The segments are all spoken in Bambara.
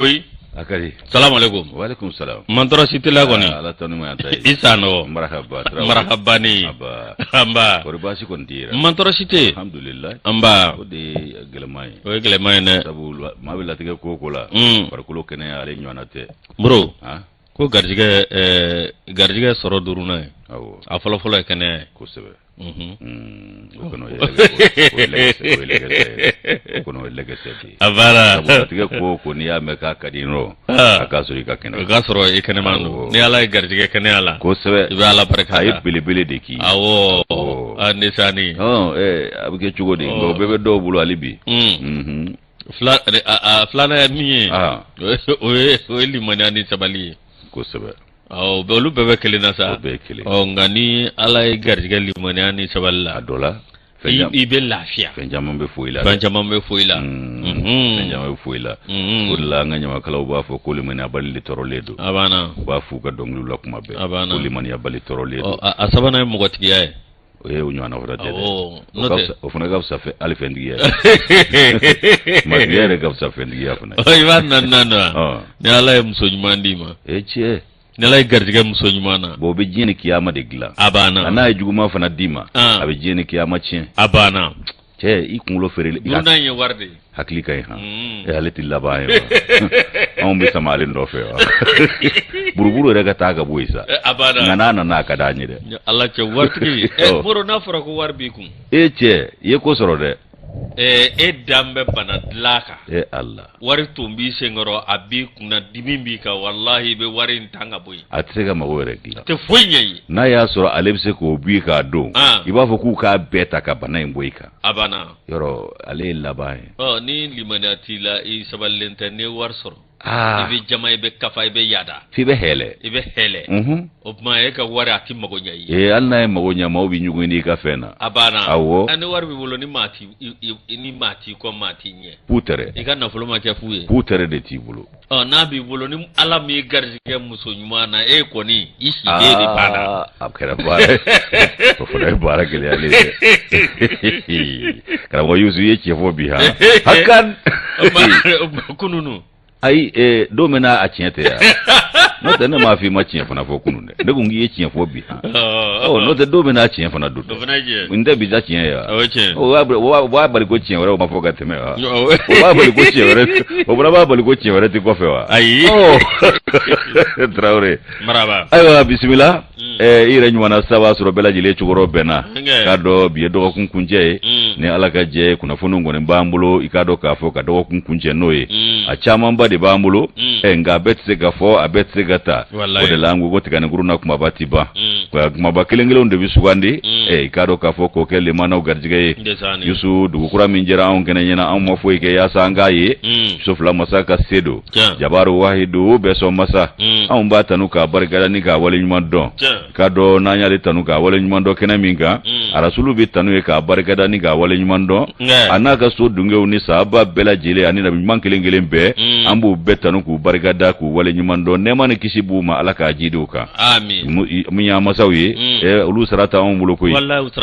oui a ka di salamu aleykum walekum salam mantɔrɔ si t'i la kɔni ala tanu ma ta ye i Sanɔgɔ marahaba Traoré. marahbani Aba. anba kɔri baasi kɔni t'i la mantɔrɔ si tɛ yen alhamdulilayi anba o de ye gɛlɛman ye o ye gɛlɛman ye dɛ sabu la- maa bɛ latigɛ ko o ko la Mm. farikolo kɛnɛya ale ɲɔgɔnna tɛ bro han ko garijɛgɛ ɛɛ garijɛgɛ sɔrɔ duurunan ye awɔ a fɔlɔ fɔlɔ ye kɛnɛya ye kosɛbɛ unhun Mm, o kɔni o ye lɛgɛsɛ- o ye lɛgɛsɛ- o ye lɛgɛsɛ ye. O kɔni o ye lɛgɛsɛ de ye. a baara sabu latigɛ ko o ko n'i y'a mɛn k'a ka di nɔ Ah. a k'a sɔrɔ i ka kɛnɛ o k'a sɔrɔ i kɛnɛman Awɔ. don ni ala y'i garijɛgɛ kɛnɛya la kosɛbɛ i bɛ ala barika da a ye belebele de k'i ye. awɔ Awɔ. a nisani Hɔn, ɛɛ, a bɛ kɛ cogo di Ɔ. nka o bɛɛ bɛ dɔw bolo hali bi Mm. Mhm. fila re- a- a- filanan ye min ye Ah. o ye- o ye o ye limaniya ni sabali ye kosɛbɛ Awɔ, bɛ- olu bɛɛ bɛ kelen na sa o bɛɛ ye kelen ɔ nka ni ala y'i garijɛgɛ limaniya ni sabali la a dɔ la fɛn i jam- i bɛ lafiya fɛn caman bɛ fɔ i la dɛ. fɛn caman bɛ fɔ i la Mm, Mhm. fɛn caman bɛ fɔ i la Mhm. o de la an ka ɲamakalaw b'a fɔ ko limaniyabali de tɔɔrɔlen don a banna u b'a f'u ka dɔnkiliw la kuma bɛɛ A banna. ko limaniyabali tɔɔrɔlen Ɔ, don a a sabanan ye mɔgɔtigiya ye O ye o ɲɔgɔnna fana tɛ dɛ. Awɔ, O n'o ka tɛ. fisa- O fana ka fisa fɛ- hali fɛntigiya ye. Maatigiya yɛrɛ ka fisa fɛntigiya fana. Ɔ, a banna naaninan wa Ɔn. ni ala ye muso ɲuman d'i ma E cɛ, ni ala y'i garijɛgɛ muso ɲuman na bon o bɛ diɲɛ ni kiyama de dilan. a banna Nka n'a ye juguman fana d'i ma, Ɔn. a bɛ diɲɛ ni kiyama tiɲɛ. a banna cɛ i kunkolo fɛrɛlen duurunan ye wari de ye hakili ka ɲi han mm. e ale tɛ laban ye wa anw bɛ sama ale nɔfɛ wa buruburu yɛrɛ ka taa ka bɔ yen sa eh, a banna nka n'a nana a ka d'an ye dɛ ala cɛ waritigi ɛ eh, moro n'a fɔra ko wari b'i kun e cɛ i ye ko sɔrɔ dɛ eh, e dalen bɛ bana dilan kan e ala wari tun b'i senkɔrɔ a b'i kunna dimi b'i kan walahi i bɛ wari in tan ka bɔ yen a tɛ se ka mago yɛrɛ dilan a tɛ foyi ɲɛ i ye n'a y'a sɔrɔ ale bɛ se k'o b'i k'a don i b'a fɔ k'u k'a bɛɛ ta ka bana in bɔ i kan a banna yɔrɔ ale ye laban ye ɔ ni limaniya t'i la i sabalilen tɛ n'i ye wari sɔrɔ i bɛ jama i bɛ kafa i bɛ yaada f'i bɛ hɛlɛ i bɛ hɛlɛ o tuma e ka wari a tɛ mago ɲɛ i ye hali n'a ye mago ɲɛ maaw bɛ ɲugun n'i ka fɛn na a banna awɔ ni wari b'i bolo ni maa t'i ni maa t'i kɔ maa t'i ɲɛ k'u tɛrɛ i ka nafolo ma kɛ fu ye k'u tɛrɛ de t'i bolo ɔ n'a b'i bolo ni ala m'i garijɛgɛ muso ɲuman na e kɔni i si de banna a kɛra baara ye o fana ye baara gɛlɛyalen ye karamɔgɔ yusu i ye tiɲɛ fɔ bi ha hakan kunun ayi don min na a tiɲɛ tɛ yan n'o tɛ ne m'a fɔ i ma tiɲɛ fana fɔ kunun dɛ ne ko k'i ye tiɲɛ fɔ bi han n'o tɛ don min na tiɲɛ fana don n tɛ bi ta tiɲɛ ye wa o b'a bali ko tiɲɛ wɛrɛ o ma fɔ ka tɛmɛ wa o b'a bali ko tiɲɛ wɛrɛ o fana b'a bali ko tiɲɛ wɛrɛ tɛ kɔfɛ wa ayi tarawele ayiwa bisimila Ɛɛ i yɛrɛ ɲɔgɔnna sira b'a sɔrɔ bɛɛ lajɛlen cɛkɔrɔba bɛn na k'a dɔn bi ye dɔgɔkun kuncɛ ye ni ala ka jɛ kunnafoni kɔni b'an bolo i k'a dɔn k'a fɔ ka dɔgɔkun kuncɛ n'o ye a camanba de b'an bolo nka a bɛ se ka fɔ a bɛ se ka taa o de la an ko tiganinkuru na kumaba tɛ ban kumaba kelen kelen de bɛ sugandi i k'a dɔn k'a fɔ k'o kɛ manaw garijɛgɛ yusu dugu kura min jɛra anw kɛnɛ ɲɛna anw ma foyi kɛ yasa an k'a ye so fila masa ka se don jabaru wahidu bɛɛ sɔn masa mm. anw b'a tanu k'a barikada ni k'a wale ɲuman dɔn k'a dɔn n'an y'ale tanu k'a wale ɲuman dɔn kɛnɛ min kan mm. arasulu bɛ tanu ye k'a barikada ni k'a wale ɲuman dɔn a n'a ka so dungew ni sahaba bɛɛ lajɛlen ani nabi ɲuman kelen kelen bɛɛ mm. an b'u bɛɛ tanu k'u barikada k'u wale ɲuman dɔn nɛɛma ni kisi b'u ma ala k'a jiidi u kan minnu y'an masaw ye olu sara t'anw bolo koyi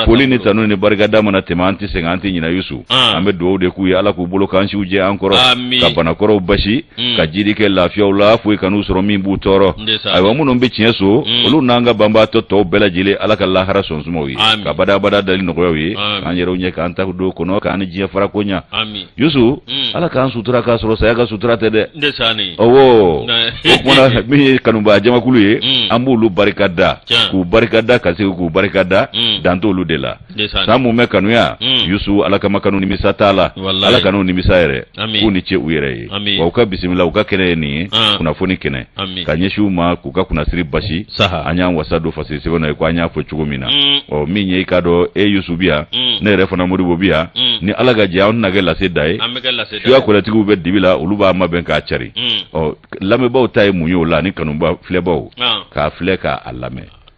foli ni tanu ni barikada mana tɛmɛ an tɛ sɛgɛn an tɛ ɲinɛ yusu An. an bɛ dugawu de k'u ye ala k'u bolo kan siw jɛ an kɔrɔ Amin. ka banakɔrɔw basi Mm. ka jiidi kɛ lafiyaw la foyi kan'u sɔrɔ min b'u tɔɔrɔ Ndeysaan. ayiwa minnu bɛ tiɲɛ so Mm. olu n'an ka banbaatɔ tɔw bɛɛ lajɛlen ala ka lahara so suma u ye Amin. ka badabada dali nɔgɔya u ye Amin. k'an yɛrɛw ɲɛ k'an ta don o kɔnɔ k'an ni diɲɛ fara ko ɲa amin yusu Mm. ala k'an sutura k'a sɔrɔ saya ka sutura tɛ dɛ ndeysaan ɔwɔ Nka- o kɔ na min ye kanubaa jamakulu ye Mm. an b'olu barika da Tiɲɛ. k'u barika da ka segin k'u barika da Mm. dan t'olu de la sa minnu bɛ kanuya hmm. yusu ala kama kanu nimisa t'a la ala kan'u nimisa yɛrɛ k'u ni ce u yɛrɛ ye wa u ka bisimila u ka kɛnɛ ye nin ye ah. kunnafoni kɛnɛ ka ɲɛsin u ma k'u ka kunnasiri basi an y'an wasa don fasiri sɛbɛn na ye ko an y'a fɔ cogo min na hmm. ɔ min ye i k'a dɔn e yusu bi yan hmm. ne yɛrɛ fana moribo bi yan ni ala ka jɛ an na kɛ lase da ye a kolatigiw bɛ dibi la olu b'a mabɛn k'a cari ɔ lamɛnbaaw ta ye mun ye o la ani kanubaa filɛbaaw ah. k'a filɛ k'a lamɛn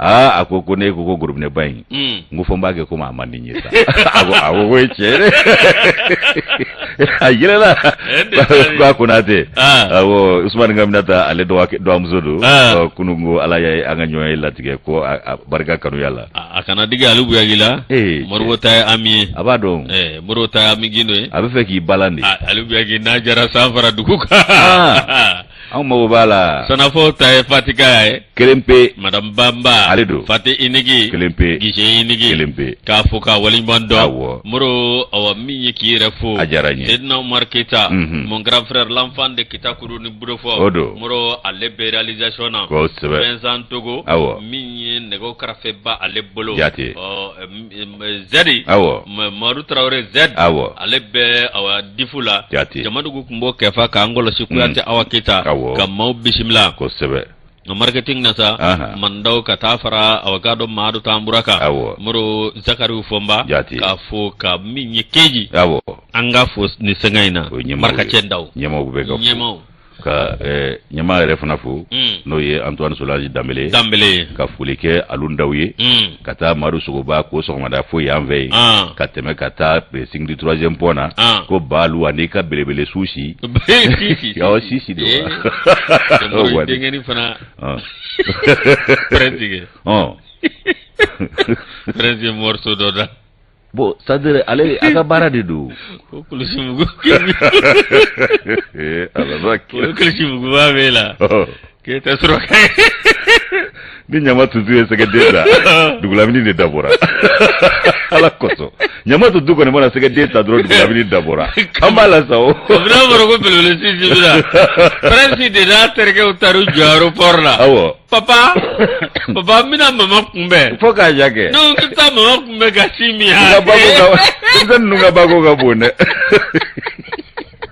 aa a ko ko ne ko ko gorobinɛ ba in Mm. n ko fɔ n b'a kɛ komi a man di n ye sa a ko a ko ko ye tiɲɛ ye dɛ a yɛlɛla Eh, de taara ye. ko a konate Ah. awɔ usumani k'aminata ale dɔgɔkɛ- dɔgɔmuso don Ah. Ɔ, kunun ko ala ye an ka ɲɔgɔn ye latigɛ ko a a barika kanuya la a a kana digi ali buyagi la Eh, moribo ta ye ami ye a b'a dɔn Eh, moribo ta ye ami gindo ye a bɛ fɛ k'i balan de Ah, ali buyagi n'a jara san fara dugu kan Ah. anw mago b'a la sannafɔ ta ye fati ka ye kelen pe madame banba ale don fati unique kelen pe gise unique kelen pe k'a fo k'a waleɲuman dɔn awɔ moro awɔ min ye k'i yɛrɛ fo a diyara n ye sedina umar keyita mhm. mon grand frère l'enfant de kitakuru ni budofɔ o don moro ale bɛ réalisation na kosɛbɛ vincent togo awɔ min ye nɛgɛw karafe b'ale bolo jate ɔ zɛdi awɔ madu tarawele z awɔ ale bɛ awɔ difu la jate jamadugu tun b'o kefa ka ngolo seku kuyate awa keyita Awɔ. ka maaw bisimila kosɛbɛ nka marketing na sa Aha. man daw ka taa fara awa gado maadu tanbura kan Awɔ. moro zakariyu fɔnba Jate. k'a fo ka min ye keji aw an ka fo ni sɛgɛn in na o ye ɲɛmaaw marikacɛ daw ɲɛmaaw bɛ ka fo. ɲɛmaaw ka eh, ɲɛmaa yɛrɛ fana fo mm. n'o ye antoine solaji danbele danbele ka foli kɛ alu ndaw ye mm. ka taa madu sogoba ko sɔgɔmada fo yan fɛ yen ah. ka tɛmɛ ka taa pressing du troisième pont na ah. ko baalu ani ka belebele su si awɔ si si de wa denkɛni fana pɛrɛn tigɛ prince morceau dɔ da bon c'est-à-dire ale a ka baara de don ko kulusi mugu Eh, ala na ko kɛ kulusi muguba b'e la k'e tɛ suraka ni ɲama tutu ye sɛgɛden ta dugulamini de dabɔra ala kosɔn ɲama tutu kɔni mana sɛgɛden ta dɔrɔn dugulamini dabɔra an b'a la sa o kabini a fɔra ko belebele si si bɛ na faransi de n'a terikɛw taara u jɔ aéroport la awɔ papa papa n bɛna mama kunbɛn fo k'a ja kɛ n'o bɛ taa mama bɛ ka ci min yan denmisɛn ninnu ka bako ka bon dɛ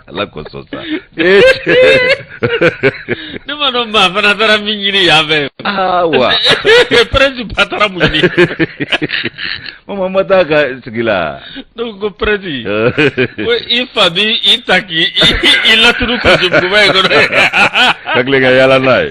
ala kosɔn sa ne ma dɔn maa fana taara mun ɲini yan fɛ aa wa prince ba taara mun ɲini mama ma taa ka sigi la ne ko ko prince ko i fa b'i ta k'i i laturu kulusi muguba in kɔnɔ ka tile ka yaala n'a ye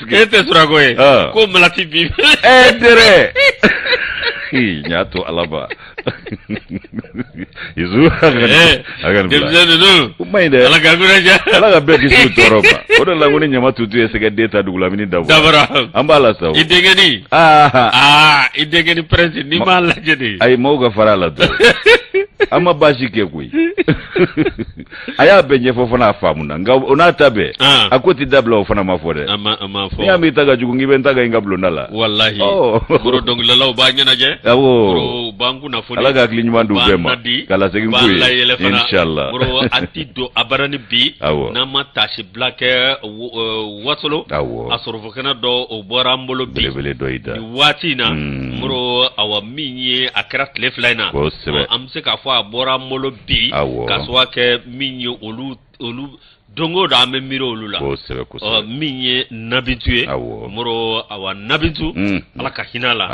E tɛ suraka ye ko malati bi dɛ n y'a to ala ma ala ka bɛɛ kisi tɔɔrɔ ma o de la ko ni ɲama tutu ye sɛgɛden ta dugulamini dabɔra an b'a la sa i deni aa i deni prince n'i m'a lajɛ a ye maaw ka fara la an ma baasi kɛ koyi a y'a bɛɛ ɲɛfɔ fana a faamu na nka o n'a ta bɛɛ ah. a ko tɛ dabila o fana ma fɔ dɛ n'i y'a mɛn i ta ka jugu k'i bɛ n ta ka n ka bulonda la walahi moro oh. dɔnkilidalaw b'an ɲɛnajɛ awɔ b'an kunnafoni ala ka hakili ɲuman di u bɛɛ ma ka lasegin k'u ye inshallah moro a ti don a bara ni bi n'an ma taasibila kɛ e, wasolo awɔ a sorofekɔnɔ dɔ o bɔra an bolo bi belebele dɔ y'i da nin waati in na moro hmm. awa min ye a kɛra tile fila in na kosɛbɛ an bɛ se k'a fɔ a bɔra an bolo bi k'a sababu kɛ min ye olu olu don o don an bɛ miiri olu la min ye nabintu ye moro awa nabintu ala ka hinɛ a la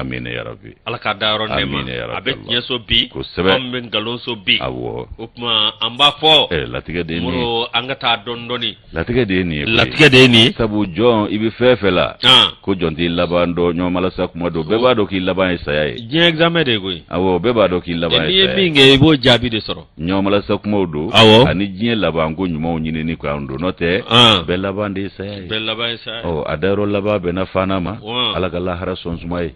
ala ka dayɔrɔ nɛɛma a bɛ tiɲɛso bi an bɛ nkalonso bi o tuma an b'a fɔ latigɛ de an ka taa dɔɔni dɔɔni latigɛ de ye nin ye latigɛ de ye nin ye sabu jɔn i bɛ fɛn fɛn la ko jɔn t'i laban dɔn ɲɔgɔnmalasa kuma don bɛɛ b'a dɔn k'i laban ye saya ye diɲɛ examen de ye koyi awɔ bɛɛ b'a dɔn k'i laban ye saya ye n'i ye min kɛ i b'o jaabi de sɔrɔ ɲɔgɔnmalasa kumaw don awɔ ani diɲɛ laban ko ɲumanw ɲinini kan don n'o tɛ bɛɛ laban de ye saya ye bɛɛ laban ye saya ye ɔ a dayɔrɔ laban bɛnna fana ma ala ka lahara sɔn suma ye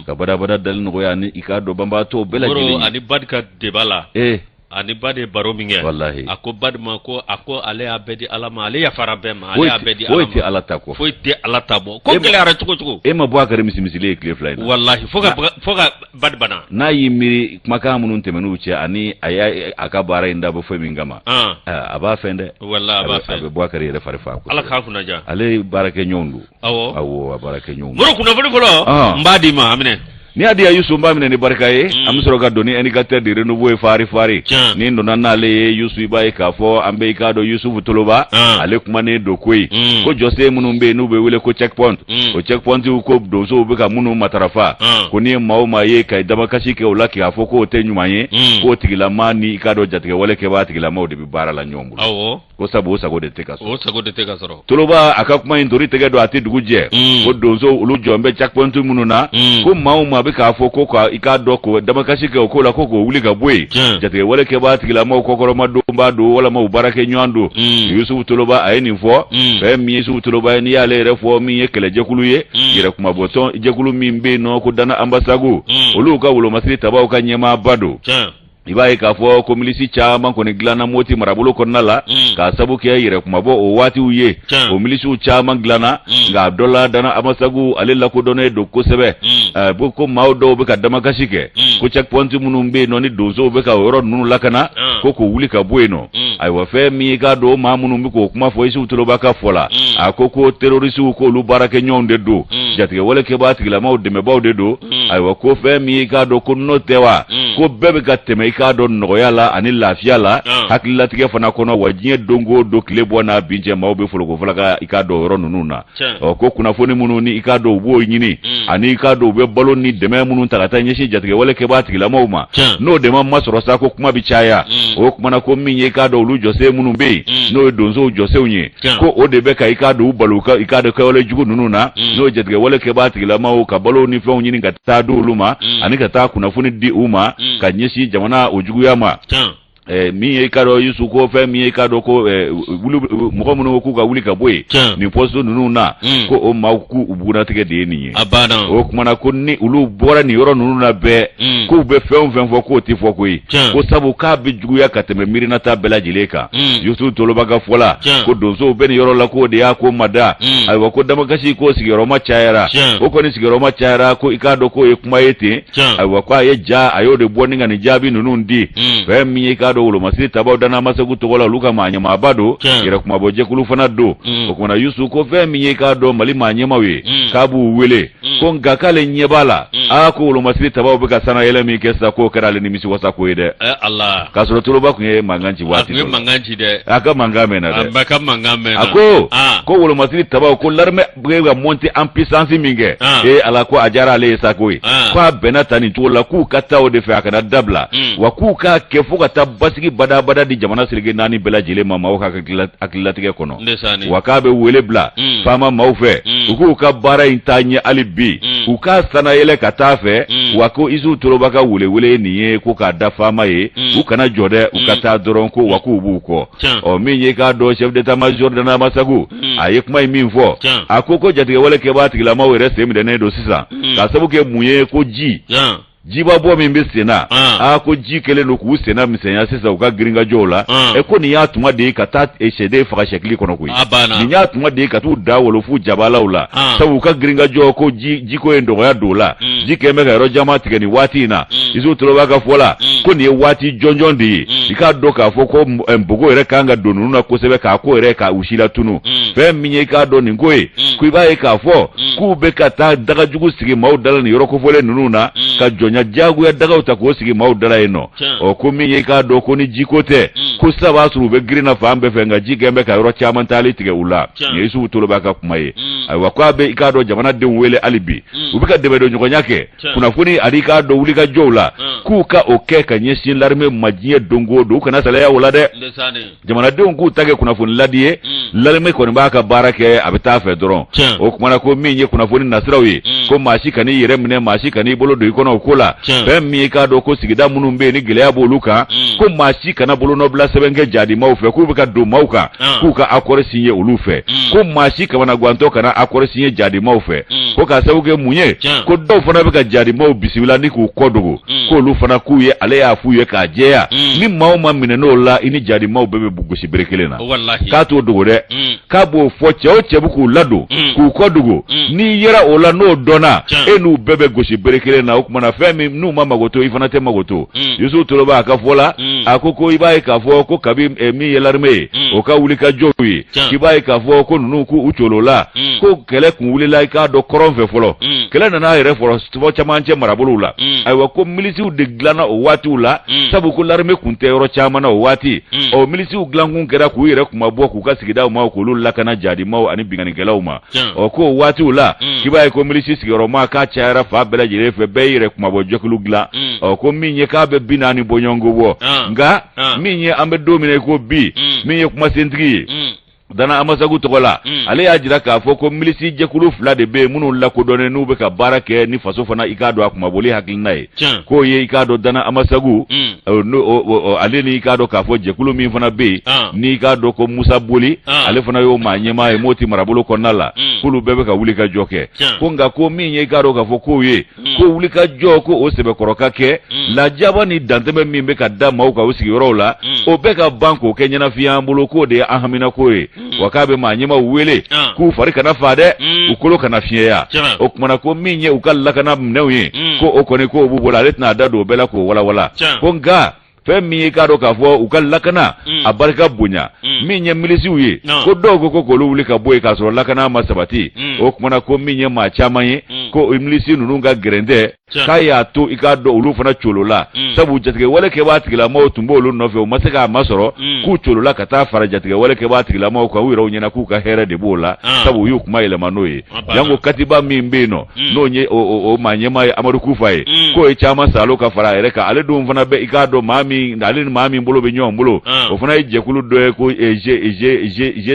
ka badabada dali nɔgɔya ni i k'a dɔn banbaatɔ bɛɛ lajɛlen ani barika de b'a la ee a ni Badi ye baro min kɛ walahi a ko Badi ma ko a ko ale y'a bɛɛ di ala ma ale yafara bɛɛ ma ale y'a bɛɛ di foyi tɛ ala ta kɔ foyi tɛ ala ta bɔ ko e gɛlɛyara cogo cogo e ma Buwakari misi misili ye tile fila in walahi fo ka fo ka Badi bana n'a y'i miiri kumakan minnu tɛmɛn'u cɛ ani a y'a a ka baara in dabɔ foyi min kama a b'a fɛn dɛ walahi a b'a fɛn a bɛ Buwakari yɛrɛ fari fa ko ala k'a kunnaja ale baarakɛɲɔgɔn don awɔ awɔ a baarakɛɲɔgɔn mori kunnafoni fɔlɔ ah. n b'a d'i ma a minɛ n'i y'a di Yusu n b'a minɛ ni barika ye mm. an bɛ sɔrɔ ka don ni indicateur de renouveau ye fari fari ni n donna n'ale ye Yusu i b'a ye k'a fɔ an bɛɛ i k'a dɔn Yusufu Toloba ah. ale kumanen don koyi mm. ko jɔsen minnu bɛ yen n'u bɛ wele ko checkpoint mm. o checkpointiw ko donsow bɛ ka minnu matarafa ah. ko n'i ye maa o maa ye ka damakasi kɛ o la k'a fɔ k'o tɛ ɲuman ye k'o tigilama ni i k'a dɔn jatigɛwale kɛbaa tigilamaw de bɛ baara la ɲɔgɔn bolo. ko sabu sago de tɛ ka sɔrɔ Toloba a ka kuma in ntori tɛgɛ don a tɛ dugu jɛ mm. ko donsow olu jɔnen bɛ checkpoint minnu na mm. ko maa o maa bɛ k'a fɔ ko i k'a dɔn ko damakasi kɛ o ko la ko k'o wuli ka bɔ yen jatigɛwale kɛbaa tigilamaw kɔkɔrɔmadonbaa don walima baarakɛɲɔgɔn don mm. Yusufu Toloba a ye nin fɔ fɛn min Yusufu Toloba n'i y'ale yɛrɛ fɔ min ye kɛlɛjɛkulu ye yɛrɛkunmabɔtɔn jɛkulu min bɛ yen nɔ ko Dana Anbasago olu ka wolomasiri tabaaw ka ɲɛmaaba don i b'a ye k'a fɔ ko milisi caman kɔni dilanna moti marabolo kɔnɔna la mm. k'a sabu kɛ yɛrɛkunmabɔ o waatiw ye o milisiw caman dilanna mm. nka a dɔ la dana amasagu ale lakodɔnnen don kosɛbɛ mm. eh, bon ko maaw dɔw bɛ ka damakasi kɛ ko checkpoint minnu bɛ yen nɔ ni donsow bɛ ka o yɔrɔ ninnu lakana ko k'o wuli ka bɔ yen nɔ Mm. ayiwa fɛn min y'i k'a dɔn maa minnu bɛ k'o kuma fɔ Yusufu Toloba ka fɔ la mm. a ko ko terorisiw k'olu baarakɛɲɔgɔnw de don mm. jatigɛwale kɛbaa tigilamaw dɛmɛbaaw de don ayiwa ko fɛn min y'i k'a dɔn ko n'o tɛ wa ko bɛɛ bɛ ka tɛmɛ i k'a dɔn nɔgɔya la ani lafiya la hakililatigɛ fana kɔnɔ wa diɲɛ don go don tile bɔ n'a bin cɛ maaw bɛ folokofala ka i k'a dɔn yɔrɔ ninnu na ɔ ko kunnafoni minnu ni i k'a dɔn u b'o ɲini mm. ani i k'a dɔn u bɛ balo ni dɛmɛ minnu ta ka taa ɲɛsin jatigɛwale kɛbaa tigilamaw ma n'o dɛmɛ ma sɔrɔ sa ko kuma bɛ caya mm. o kuma na ko min ye i k'a dɔn olu jɔsen minnu bɛ yen mm. n'o ye donsow jɔsenw ye ko o de bɛ ka i k'a dɔn u bali i k'a dɔn kɛwale jugu ninnu na n'o ye jatigɛwale kɛbaa tigilamaw ka balo ni fɛnw ɲini ka taa di olu ma ani ka taa kunnafoni di u ma ka ɲɛsin jamana o juguya ma Ɛɛ min ye i k'a dɔn Yusu ko fɛn min ye i k'a dɔn ko olu mɔgɔ minnu ko k'u ka wuli ka bɔ yen. Tiɲɛ. Nin poste ninnu na. Un. Ko o maaw k'u u bugunnatigɛ de ye nin ye. A banna. O tuma na ko ni olu bɔra nin yɔrɔ ninnu na bɛɛ. Un. K'u bɛ fɛn o fɛn fɔ k'o tɛ fɔ koyi. Tiɲɛ. Ko sabu k'a bɛ juguya ka tɛmɛ miirinata bɛɛ lajɛlen kan. Un. Yusu Toloba ka fɔ la. Tiɲɛ. Ko donsow bɛ nin yɔrɔ la k'o de y'a ko mada. Un. Ayiwa ko damakasi k'o sigiyɔrɔma cayara. Tiɲɛ. O kɔni sigiyɔrɔma cayara ko i k'a dɔn k'o ye kuma ye ten. ayiwa ko a ye ja a y'o de bɔ ni ka nin jaabi ninnu di hmm. fɛn min ye k'a dɔn wolomasiri tabaw danna masagu tɔgɔ la olu ka maa ɲɛmaaba don yɛrɛ kunmabɔ jɛkulu fana don hmm. o kumana yusu ko fɛn min ye k'a dɔn mali maa ɲɛmaaw ye hmm. k'a b'u wele ko nka k'ale ɲɛ b'a la aa ko wolomasiri tabaw bɛ ka sanayɛlɛ min kɛ sisan k'o kɛra ale nimisi wasa ko ye dɛ eh, k'a sɔrɔ toloba tun ye mankan ci waati a ka mankan mɛnna dɛ a ko ko wolomasiri tabaw ko larime bɛ ka montée en puissance min kɛ, an, ee Ala ko a diyara ale ye sa koyi, an, k'a bɛna taa nin cogo la k'u ka taa o de fɛ a kana dabila, un, wa k'u k'a kɛ fo ka taa basigi badabada di jamana seleke naani bɛɛ lajɛlen ma maaw ka hakilila- hakililatigɛ kɔnɔ, ndesaani, wa k'a bɛ wele bila un, FAMa maaw fɛ Mm. u k'u ka baara in taa ɲɛ hali bi Mm. u k'a sanayɛlɛ ka taa fɛ Mm. wa ko Isu Toloba ka welewele ye nin ye ko k'a da FAMa ye Mm. u kana jɔ dɛ u ka Mm. taa dɔrɔn ko wa k'u b'u kɔ ɔ min ye k'a dɔn chef d'état-major danna masagu a ye kuma ye min fɔ a ko ko jatigɛwale kɛbaa tigilamaw yɛrɛ sen minɛnen don sisan ka sabu kɛ mun ye ko ji jiba bɔ min bɛ senna aa ko ji kɛlen don k'u senna misɛnya sisan u ka girinkajɔw la ɛ ko nin y'a tuma de ye ka taa sɛden faga sɛkili kɔnɔ koyi nin y'a tuma de ye ka taa da wolo fu jabalaw la sabu u ka girinkajɔ ko jiko ye dɔgɔya don a la ji kɛ bɛ ka yɔrɔ caman tigɛ nin waati in na isu toloba ka fɔ la ko nin ye waati jɔnjɔn de ye i k'a dɔn k'a fɔ ko bugɔ yɛrɛ kan ka don ninnu na kosɛbɛ k'a ko yɛrɛ ka u silatunu fɛn min ye k'a dɔn nin ko ye ko i b'a ye k'a fɔ k'u bɛ ka taa dagajugu sigi maaw da la nin yɔrɔ kofɔlen ninnu na ka jɔnya diyagoya dagaw ta k'o sigi maaw da la yen nɔ Ɔ ko min ye k'a dɔn ko ni jiko tɛ ko sa a b'a sɔrɔ u bɛ girin na fan bɛɛ fɛ nka ji gɛn bɛ ka yɔrɔ caman taali tigɛ u la yusufu toloba ka kuma ye ayiwa k' a bɛ i k'a dɔn jamanadenw wele hali bi u bɛ ka dɛmɛ don ɲɔgɔnya kɛ kunnafoni ani k'a dɔn wuli ka jɔw la k'u ka o kɛ ka ɲɛsin larime ma diɲɛ don go don u kana salaya o la dɛ jamanadenw k'u ta kɛ kunnafoni ladi ye mm. larime kɔni b'a ka baara kɛ a bɛ taa fɛ dɔrɔn o kumana ko min ye kunnafoni nasiraw ye mm. ko maa si kan'i yɛrɛ minɛ maa si kan'i bolo don i kɔnɔ o ko la fɛn min i k'a dɔn ko sigida minnu bɛ yen ni gɛlɛya b'olu kan mm. ko maa si kana bolonɔbila sɛbɛn kɛ jaadi maaw fɛ k'u bɛ ka don maaw kan ah. k'u ka akɔri sinye olu fɛ ko maa si kamanagwantɔ kana akɔri sinye jaadi maaw fɛ ko k'a sabu kɛ mun ye ko dɔw fana bɛ ka jaadi maaw bisimila ni k'u kɔ dogo Mm. k'olu fana k'u ye ale y'a f'u ye k'a jɛya Mm. ni maa o maa minɛna o la i ni jaadi maaw bɛɛ bɛ gosi bere kelen na Wallahi. k'a t'o dogo dɛ Mm. k'a b'o fɔ cɛ o cɛ bɛ k'u ladon Mm. k'u kɔ dogo Mm. n'i yera o la n'o dɔnna Tiɲɛ. e n'u bɛɛ bɛ gosi bere kelen na o kumana fɛn min n'u ma mago to i fana tɛ mago to Mm. yusufu toloba a ka fɔ la Mm. a ko ko i b'a ye k'a fɔ ko kabi eh, min ye larime ye Mm. o ka wuli ka jɔw ye Tiɲɛ. k'i b'a ye k'a fɔ ko ninnu k'u u colo la Mm. ko kɛlɛ kun wulila i k'a dɔn kɔrɔn fɛ fɔlɔ Mm. kɛlɛ nana a yɛrɛ fɔlɔ tɔgɔ cɛmancɛ marabolo la ayiwa ko milisiw de dilanna o waatiw la sabu ko laremɛ tun tɛ yɔrɔ caman na o waati ɔ milisiw dilankun kɛra k'u yɛrɛ kunmabɔ k'u ka sigida maaw k'olu lakana jadimaaw ani binkannikɛlaw ma ɔ ko o waatiw la i b'a ye ko milisi sigiyɔrɔma ka cayara fan bɛɛ lajɛlen fɛ bɛɛ yɛrɛ kunmabɔ jɛkulu dilan ɔ ko min ye k'a bɛ bi naani bɔɲɔgɔnko bɔ nka min ye an bɛ don min na i ko bi min ye kumasentigi ye dana amasagu tɔgɔ la hmm. ale y'a jira k'a fɔ ko milisi jɛkulu fila de bɛ minnu lakodɔnnen n'u bɛ ka baara kɛ ni faso fana i k'a dɔn a kumaboli hakilina ye k'o ye i k'a dɔn dana amasagu hmm. ale ni i k'a dɔn k'a fɔ jɛkulu min fana bɛ yen ah. n'i k'a dɔn ko musa boli ah. ale fana y'o maa ɲɛmaa ye moti marabolo kɔnɔna la hmm. k'olu bɛɛ bɛ ka wuli ka jɔ kɛ ko nka ko min ye i k'a dɔn k'a fɔ k'o ye Hmm. ko wuli ka jɔ ko o sɛbɛkɔrɔ ka kɛ hmm. lajaba ni dantɛmɛ min bɛ ka da maaw kan u sigiyɔrɔw la hmm. o bɛɛ ka ban k'o kɛ ɲɛnafin ye an bolo k'o de ye an haminako ye wa k'a bɛ maa ɲɛmaw wele ah. k'u fari kana faa dɛ u kolo kana fiɲɛya o kumana ko min ye u ka lakana minɛnw ye ko o kɔni k'o b'u bolo ale tɛna a da don o bɛɛ la k'o walawala ko nka fɛn min ye i k'a dɔn k'a fɔ u ka lakana mm. a barika bonya mm. min ye milisiw ye ko dɔw ko ko k'olu wuli ka bɔ yen k'a sɔrɔ lakana ma sabati mm. o kumana ko min ye maa caman ye ko milisi ninnu ka gɛrɛntɛ k'a y'a to i k'a dɔn olu fana colola sabu jatigɛwale kɛbaa tigilamɔgɔw tun b'olu nɔfɛ u ma se k'a masɔrɔ k'u colola ka taa fara jatigɛwale kɛbaa tigilamɔgɔw kan u yɛrɛw ɲɛna k'u ka hɛrɛ de b'o la ah. sabu u y'u kuma yɛlɛma n'o ye ah, janko katiba min bɛ yen nɔ n'o ye o maa ɲɛmaa ye amadu kufa ye k'o ye caman colo ka fara yɛrɛ kan ale dun fana bɛ i k'a dɔn maa min ale ni maa min bolo bɛ ɲɔgɔn bolo o fana ye jɛkulu dɔ ye ko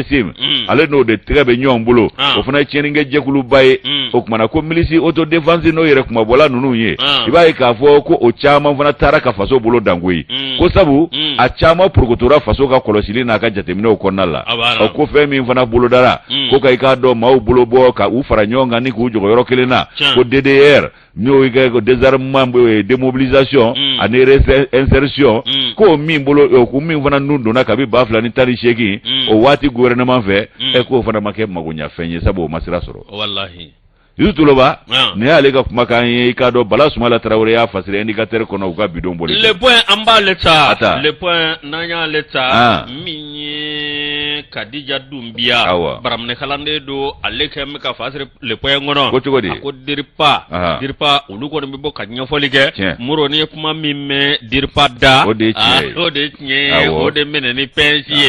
gsim ale n'o de tɛgɛ bɛ ɲɔgɔn bolo o fana ye tiɲɛnikɛ jɛkuluba ye o kumana ko milisi autodéfense n'o yɛrɛ kunmabɔla ninnu ye i b'a ye k'a fɔ ko o caman fana taara ka faso bolo dan koyi ko sabu a caman porokotora faso ka kɔlɔsili n'a ka jateminɛw kɔnɔna la o ko fɛn min fana bolodara ko ka i k'a dɔn maaw bolo bɔ ka u fara ɲɔgɔn kan ni k'u jɔgɔ yɔrɔ kelen na ko ddr n'o kɛ ko désarmement démobilisation ani réinsertion ko min bolo ko min fana tun donna kabi ba fila ni tan ni seegin o waati gouvernement fɛ ɛ k'o fana ma kɛ magoɲɛfɛn ye sabu o ma sira sɔrɔ Yusu toloba n y'ale ka kumakan ye i k'a dɔn bala sumala tarawele y'a fasiri indicateur kɔnɔ u ka bi don bɔli le point an b'ale ta ta le point n'an y'ale ta min ye kadija dunbiya baaraminɛ kalanden don ale kɛ bɛ k'a fasiri le point kɔnɔ ko cogo di a ko dirpa dirpa olu kɔni bɛ bɔ ka ɲɛfɔli kɛ mɔgɔ n'i ye kuma min mɛn dirpa da o de o de tiɲɛ ye o de minɛ ni pɛnsi ye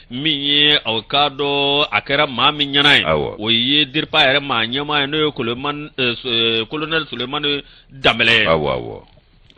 min ye aw k'a dɔn a kɛra maa min ɲɛna ye Awɔ. o ye diripa yɛrɛ maa ɲɛmaa ye n'o ye kolonɛli eh, kolonɛli sulemani danbɛlɛ ye awɔ awɔ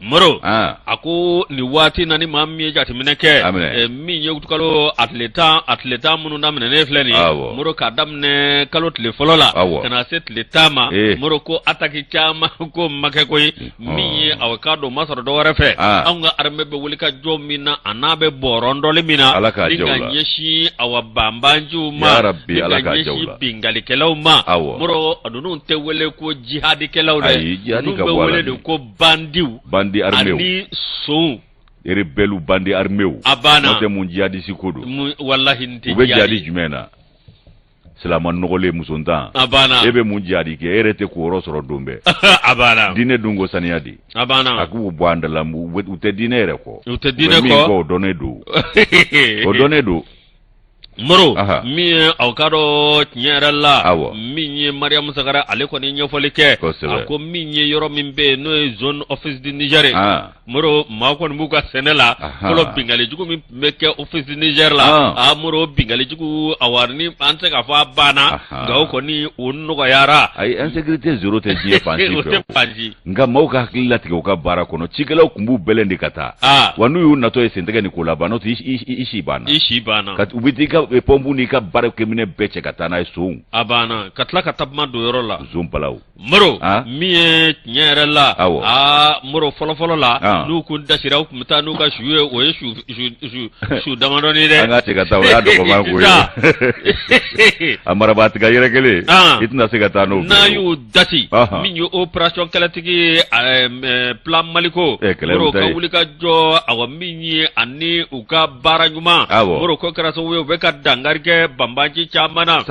moro ah a ko nin waati na ni maa min ye jateminɛ kɛ A minɛ. eh, min ye uti kalo a tile tan a tile tan minnu daminɛnen filɛ nin Awɔ. ye moro k'a daminɛ kalo tile fɔlɔ la Awɔ. ka na se tile tan ma Ee. moro ko ataki caman ko ma kɛ koyi min ye aw k'a dɔn ma sɔrɔ dɔ wɛrɛ fɛ anw ka armée bɛ wuli ka jɔ min na a n'a bɛ bɔrɔtɔli min na nin ka ɲɛsin awa banbanciw ma ka ɲɛsin binkalikɛlaw ma moro a ninnu tɛ wele ko jihadikɛlaw dɛ nin bɛ wele de ko bandiw bandi armés ani sonw rebelles bandi armés a banna n'o tɛ mun jihadisi ko don, walahi nin tɛ jihadi ye, u bɛ jihadi jumɛn na silama nɔgɔlen musontan a banna e bɛ mun jihadi kɛ e yɛrɛ tɛ ko yɔrɔ sɔrɔ don bɛɛ a banna diinɛ dun ko saniya di a banna a k'u bɔ an da la u tɛ diinɛ yɛrɛ kɔ u tɛ diinɛ kɔ o dɔnnen don o dɔnnen don moro min ye aw k'a dɔn tiɲɛ yɛrɛ la awɔ min ye mariyamu sagara ale kɔni ɲɛfɔli kɛ a ko min ye yɔrɔ min bɛ yen n'o ye zone office du niger moro maaw kɔni b'u ka sɛnɛ la fɔlɔ binkalijugu min tun bɛ kɛ office du niger la a moro binkalijugu a ni an tɛ se k'a fɔ a banna nka o kɔni o nɔgɔyayara ayi insécurité zéro tɛ diɲɛ fan si nka maaw ka hakili latigɛ u ka baara kɔnɔ cikɛlaw tun b'u bɛlɛn de ka taa aa wa n'u y'u natɔ ye sentigɛ ni ko la ban n'o i si banna i si banna ka u bɛ t'i ka pɔnpu n'i ka baarakɛminɛn bɛɛ cɛ ka taa n'a ye sonw a banna ka tila ka taa bɔmu don yɔrɔ la son bala Moro min ye tiɲɛ yɛrɛ la aa moro fɔlɔfɔlɔ la n'u kun dasira u tun bɛ taa n'u ka su ye o ye su damadɔnin dɛ an ka taa a marabatiga yɛrɛ kelen i tɛna se ka taa n'o n'a y'u dasi min ye opération kɛlɛtigi plan maliko moro ka wuli ka jɔ awa min ye ani u ka baara ɲuman moro k'o kɛra sababu ye u bɛ ka dankari kɛ banbanci caman na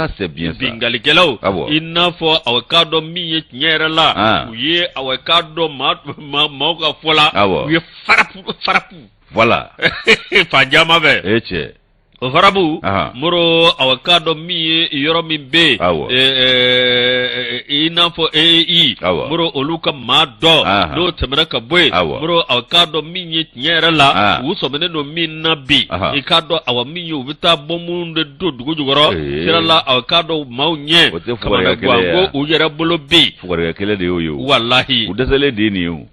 binkalikɛlaw i n'a fɔ aw k'a dɔn min ye tiɲɛ yɛrɛ la u ye aw k'a dɔn maaw ka fɔ la u ye farapu farapu voilà fan caman fɛ e cɛ o farapu moro aw k'a dɔn min ye yɔrɔ min bɛ yen i n'a fɔ ee moro olu ka maa dɔw n'u tɛmɛna ka bɔ yen moro aw k'a dɔn min ye tiɲɛ yɛrɛ la ah. u sɔminen don min na bi i k'a dɔn awa min ye u bɛ taa bɔmu de don dugu jukɔrɔ eh. sira la aw k'a dɔn maaw ɲɛ kamana gan ko u yɛrɛ bolo bɛ yen fugari kɛlɛ de y'o ye walahi u dɛsɛlen de ye nin ye o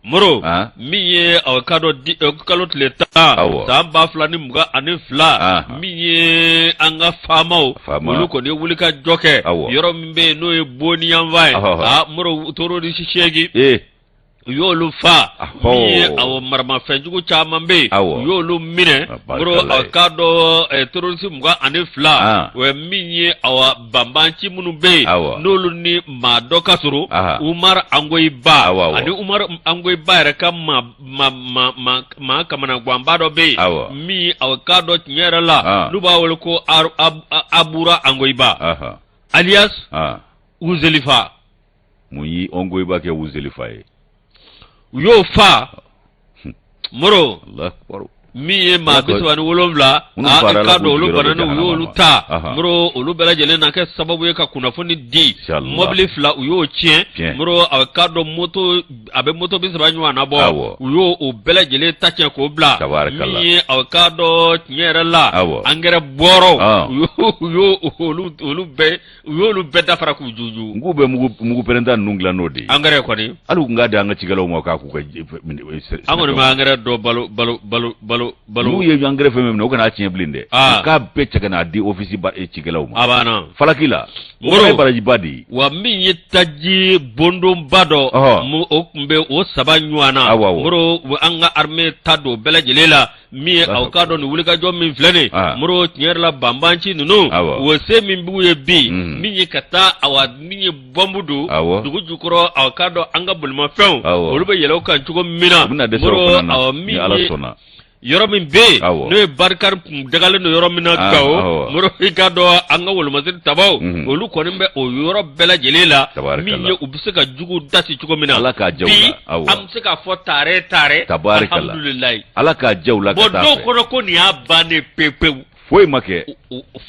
moro ah. min ye aw k'a dɔn eh, uti kalo tile tan san ba fila ni mugan ani fila ah. min ye an ka faamaw olu kɔni ye wuli ka jɔ kɛ yɔrɔ min bɛ yen n'o ye boni yanfan ye moro u tor'o ni seegin eh. u y'olu fa min ye awa maramafɛn jugu caman bɛ yen u y'olu minɛ moro aw k'a dɔn terorisi mugan ani fila o ye min ye awa banbanci minnu bɛ yen n'olu ni maa dɔ ka sɔrɔ umaru angoyiba ani umaru angoyiba yɛrɛ ka maa kamanaganba dɔ bɛ yen min aw k'a dɔn tiɲɛ yɛrɛ la n'u b'a wele ko abura angoyiba alias uzelifa mun ye angoyiba kɛ uzelifa ye u y'o fa moro min ye maa bi saba ni wolonwula k'a dɔn olu bana ni u y'olu ta moro olu bɛɛ lajɛlen na kɛ sababu ye ka kunnafoni di mɔbili fila u y'o tiɲɛ moro aw k'a dɔn moto a bɛ moto bi saba ɲɔgɔn na bɔ u y'o o bɛɛ lajɛlen ta tiɲɛ k'o bila min ye aw k'a dɔn tiɲɛ yɛrɛ la angɛrɛ bɔrɔ u y'o olu bɛɛ u y'olu bɛɛ da fara k'u junjun k'u bɛ mugu pɛrɛnta ninnu dilan n'o de ye angɛrɛ kɔni hali u tun k'a di an ka cikɛlaw ma k'a k'u ka an kɔni ma angɛrɛ dɔ balo balo balo balo balo n'u ye angɛrɛ fɛn minɛ u kan'a tiɲɛ bilen dɛ ah. k'a bɛɛ cɛ ka n'a di ofisi eh, cikɛlaw ma a banna falaki la o ye barajiba de ye wa min ye taji bondonba dɔ o tun bɛ o saba ɲɔgɔn na moro an ka armée ta don bɛɛ lajɛlen la min ye aw k'a dɔn nin wulikajɔ min filɛ nin ah. moro tiɲɛ yɛrɛ la banbanci ninnu o se min b'u ye bi mm. min ye ka taa awa min ye bɔnbu don dugu jukɔrɔ aw k'a dɔn an ka bolimafɛnw olu bɛ yɛlɛ u kan cogo min na moro awa min ye yɔrɔ min bɛ yen n'o ye barikani tun dagalen don yɔrɔ min na ah, gawo moro i k'a dɔn an ka wolomasiri tabaw mm-hmm. olu kɔni bɛ o yɔrɔ bɛɛ lajɛlen la min ye u bɛ se ka jugu dasi cogo min na bi an bɛ se k'a fɔ taare taare alhamdulilayi ala k'a ja u la ka taa fɛ. a bɛ dɔw kɔnɔ ko nin y'a bannen pepewu. foyi ma kɛ.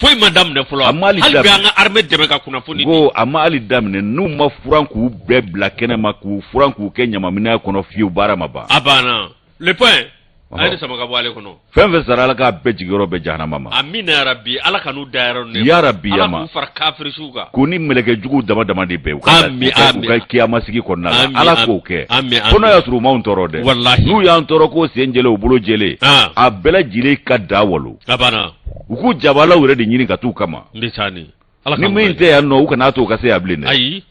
foyi ma daminɛ fɔlɔ. a ma hali daminɛ hali bi an ka armée dɛmɛ ka kunnafoni di. ko a ma hali daminɛ n'u ma furan k'u bɛɛ bila kɛnɛ ma k'u furan k'u kɛ ɲamaminɛn kɔnɔ fiyewu baara ma ban. a banna le point. a ye ne sama ka bɔ ale kɔnɔ. fɛn fɛn sara ala k'a bɛɛ jigiyɔrɔ bɛn jahanama ma. amina yarabi ala kan'u dayɔrɔ. yarabi yama ala k'u fara kafiri suw k'u ni mɛlɛkɛ jugu dama dama de bɛn u ka kiyama sigi kɔnɔna ala k'o kɛ fo n'o y'a sɔrɔ u m'an tɔɔrɔ dɛ n'u y'an tɔɔrɔ k'u sen jɛlen u bolo jɛlen a bɛɛ lajɛlen ka da wolo u ko jabala yɛrɛ de ɲini ka taa u kama ni min tɛ yan nɔ u kan'a to u ka se yan bilen ayi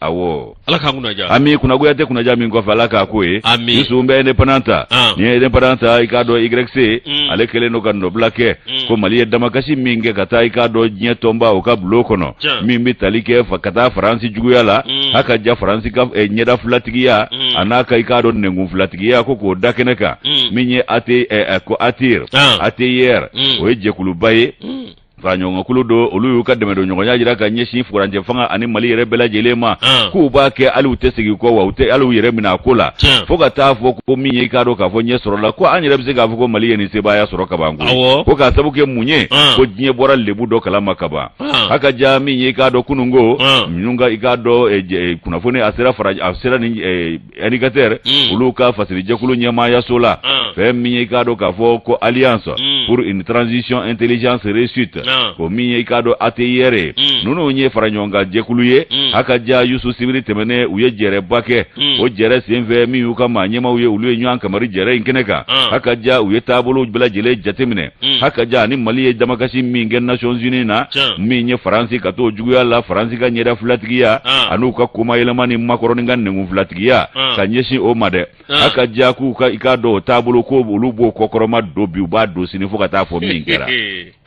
ala k'an kunna ja ami kunnagoya tɛ kunnaja min kɔfɛ ala k'a k'o ye ami ni sun bɛ indépendant ta ah. n'i ye indépendant ta i k'a dɔn YC mm. ale kɛlen don ka nɔbila kɛ mm. ko mali ye damakasi min kɛ ka taa i k'a dɔn diɲɛ tɔnba o ka bulon kɔnɔ min bɛ tali kɛ ka taa faransi juguya la mm. a ka ja faransi ka eh, ɲɛda filatigiya mm. a n'a ka i k'a dɔn nɛnkun filatigiya ko k'o da kɛnɛ kan mm. min ye AT, eh, eh, ko ATIR ah. ATIR mm. o ye jɛkuluba ye mm. faraɲɔgɔnkulu don olu y'u ka dɛmɛ don ɲɔgɔnya jira ka ɲɛsin furancɛ fanga ani mali yɛrɛ bɛɛ lajɛlen ma k'u b'a kɛ hali u tɛ segin kɔ wa u tɛ hali yɛrɛ minɛ a ko la fo ka taa fɔ ko min ye i k'a dɔn k'a fɔ ɲɛ sɔrɔla ko an yɛrɛ bɛ se k'a fɔ ko mali ye nin sebaaya sɔrɔ kaban ko ko k'a sabu kɛ mun ye ko diɲɛ bɔra lebu dɔ kala ma kaban haka ja min ye i k'a dɔn kununko minnu ka i k'a dɔn kunnafoni a sera a sera ni Indicateur Mm. olu ka fasirijɛkulu ɲɛmaayaso la Ah. fɛn min ye i k'a dɔn k'a fɔ ko alliance Mm. pour une transition intelligence réussite Ah. o min ye i k'a dɔn ATIR ye Mm. ninnu ye fara ɲɔgɔn kan jɛkulu ye Mm. haka ja Yusu sibiri tɛmɛnen u ye jɛrɛba kɛ Mm. o jɛrɛ senfɛ min y'u ka maa ɲɛmaaw ye olu ye ɲɔgɔn kamari jɛrɛ in kɛnɛ kan Ah. haka ja u ye taabolow bɛɛ lajɛlen jateminɛ Mm. haka ja ni mali ye damakasi min kɛ nations unis na Tiɲɛ. min ye faransi ka to juguya la faransi ka ɲɛda filatigiya Ah. an'u ka kuma yɛlɛma ni makɔrɔni ka nɛnkun filatigiya Ah. ka ɲɛsin o ma dɛ Ah. haka ja k'u ka i k'a dɔn o taabolo ko olu b'o kɔkɔrɔma don bi u b'a don sini fo ka taa fɔ min kɛra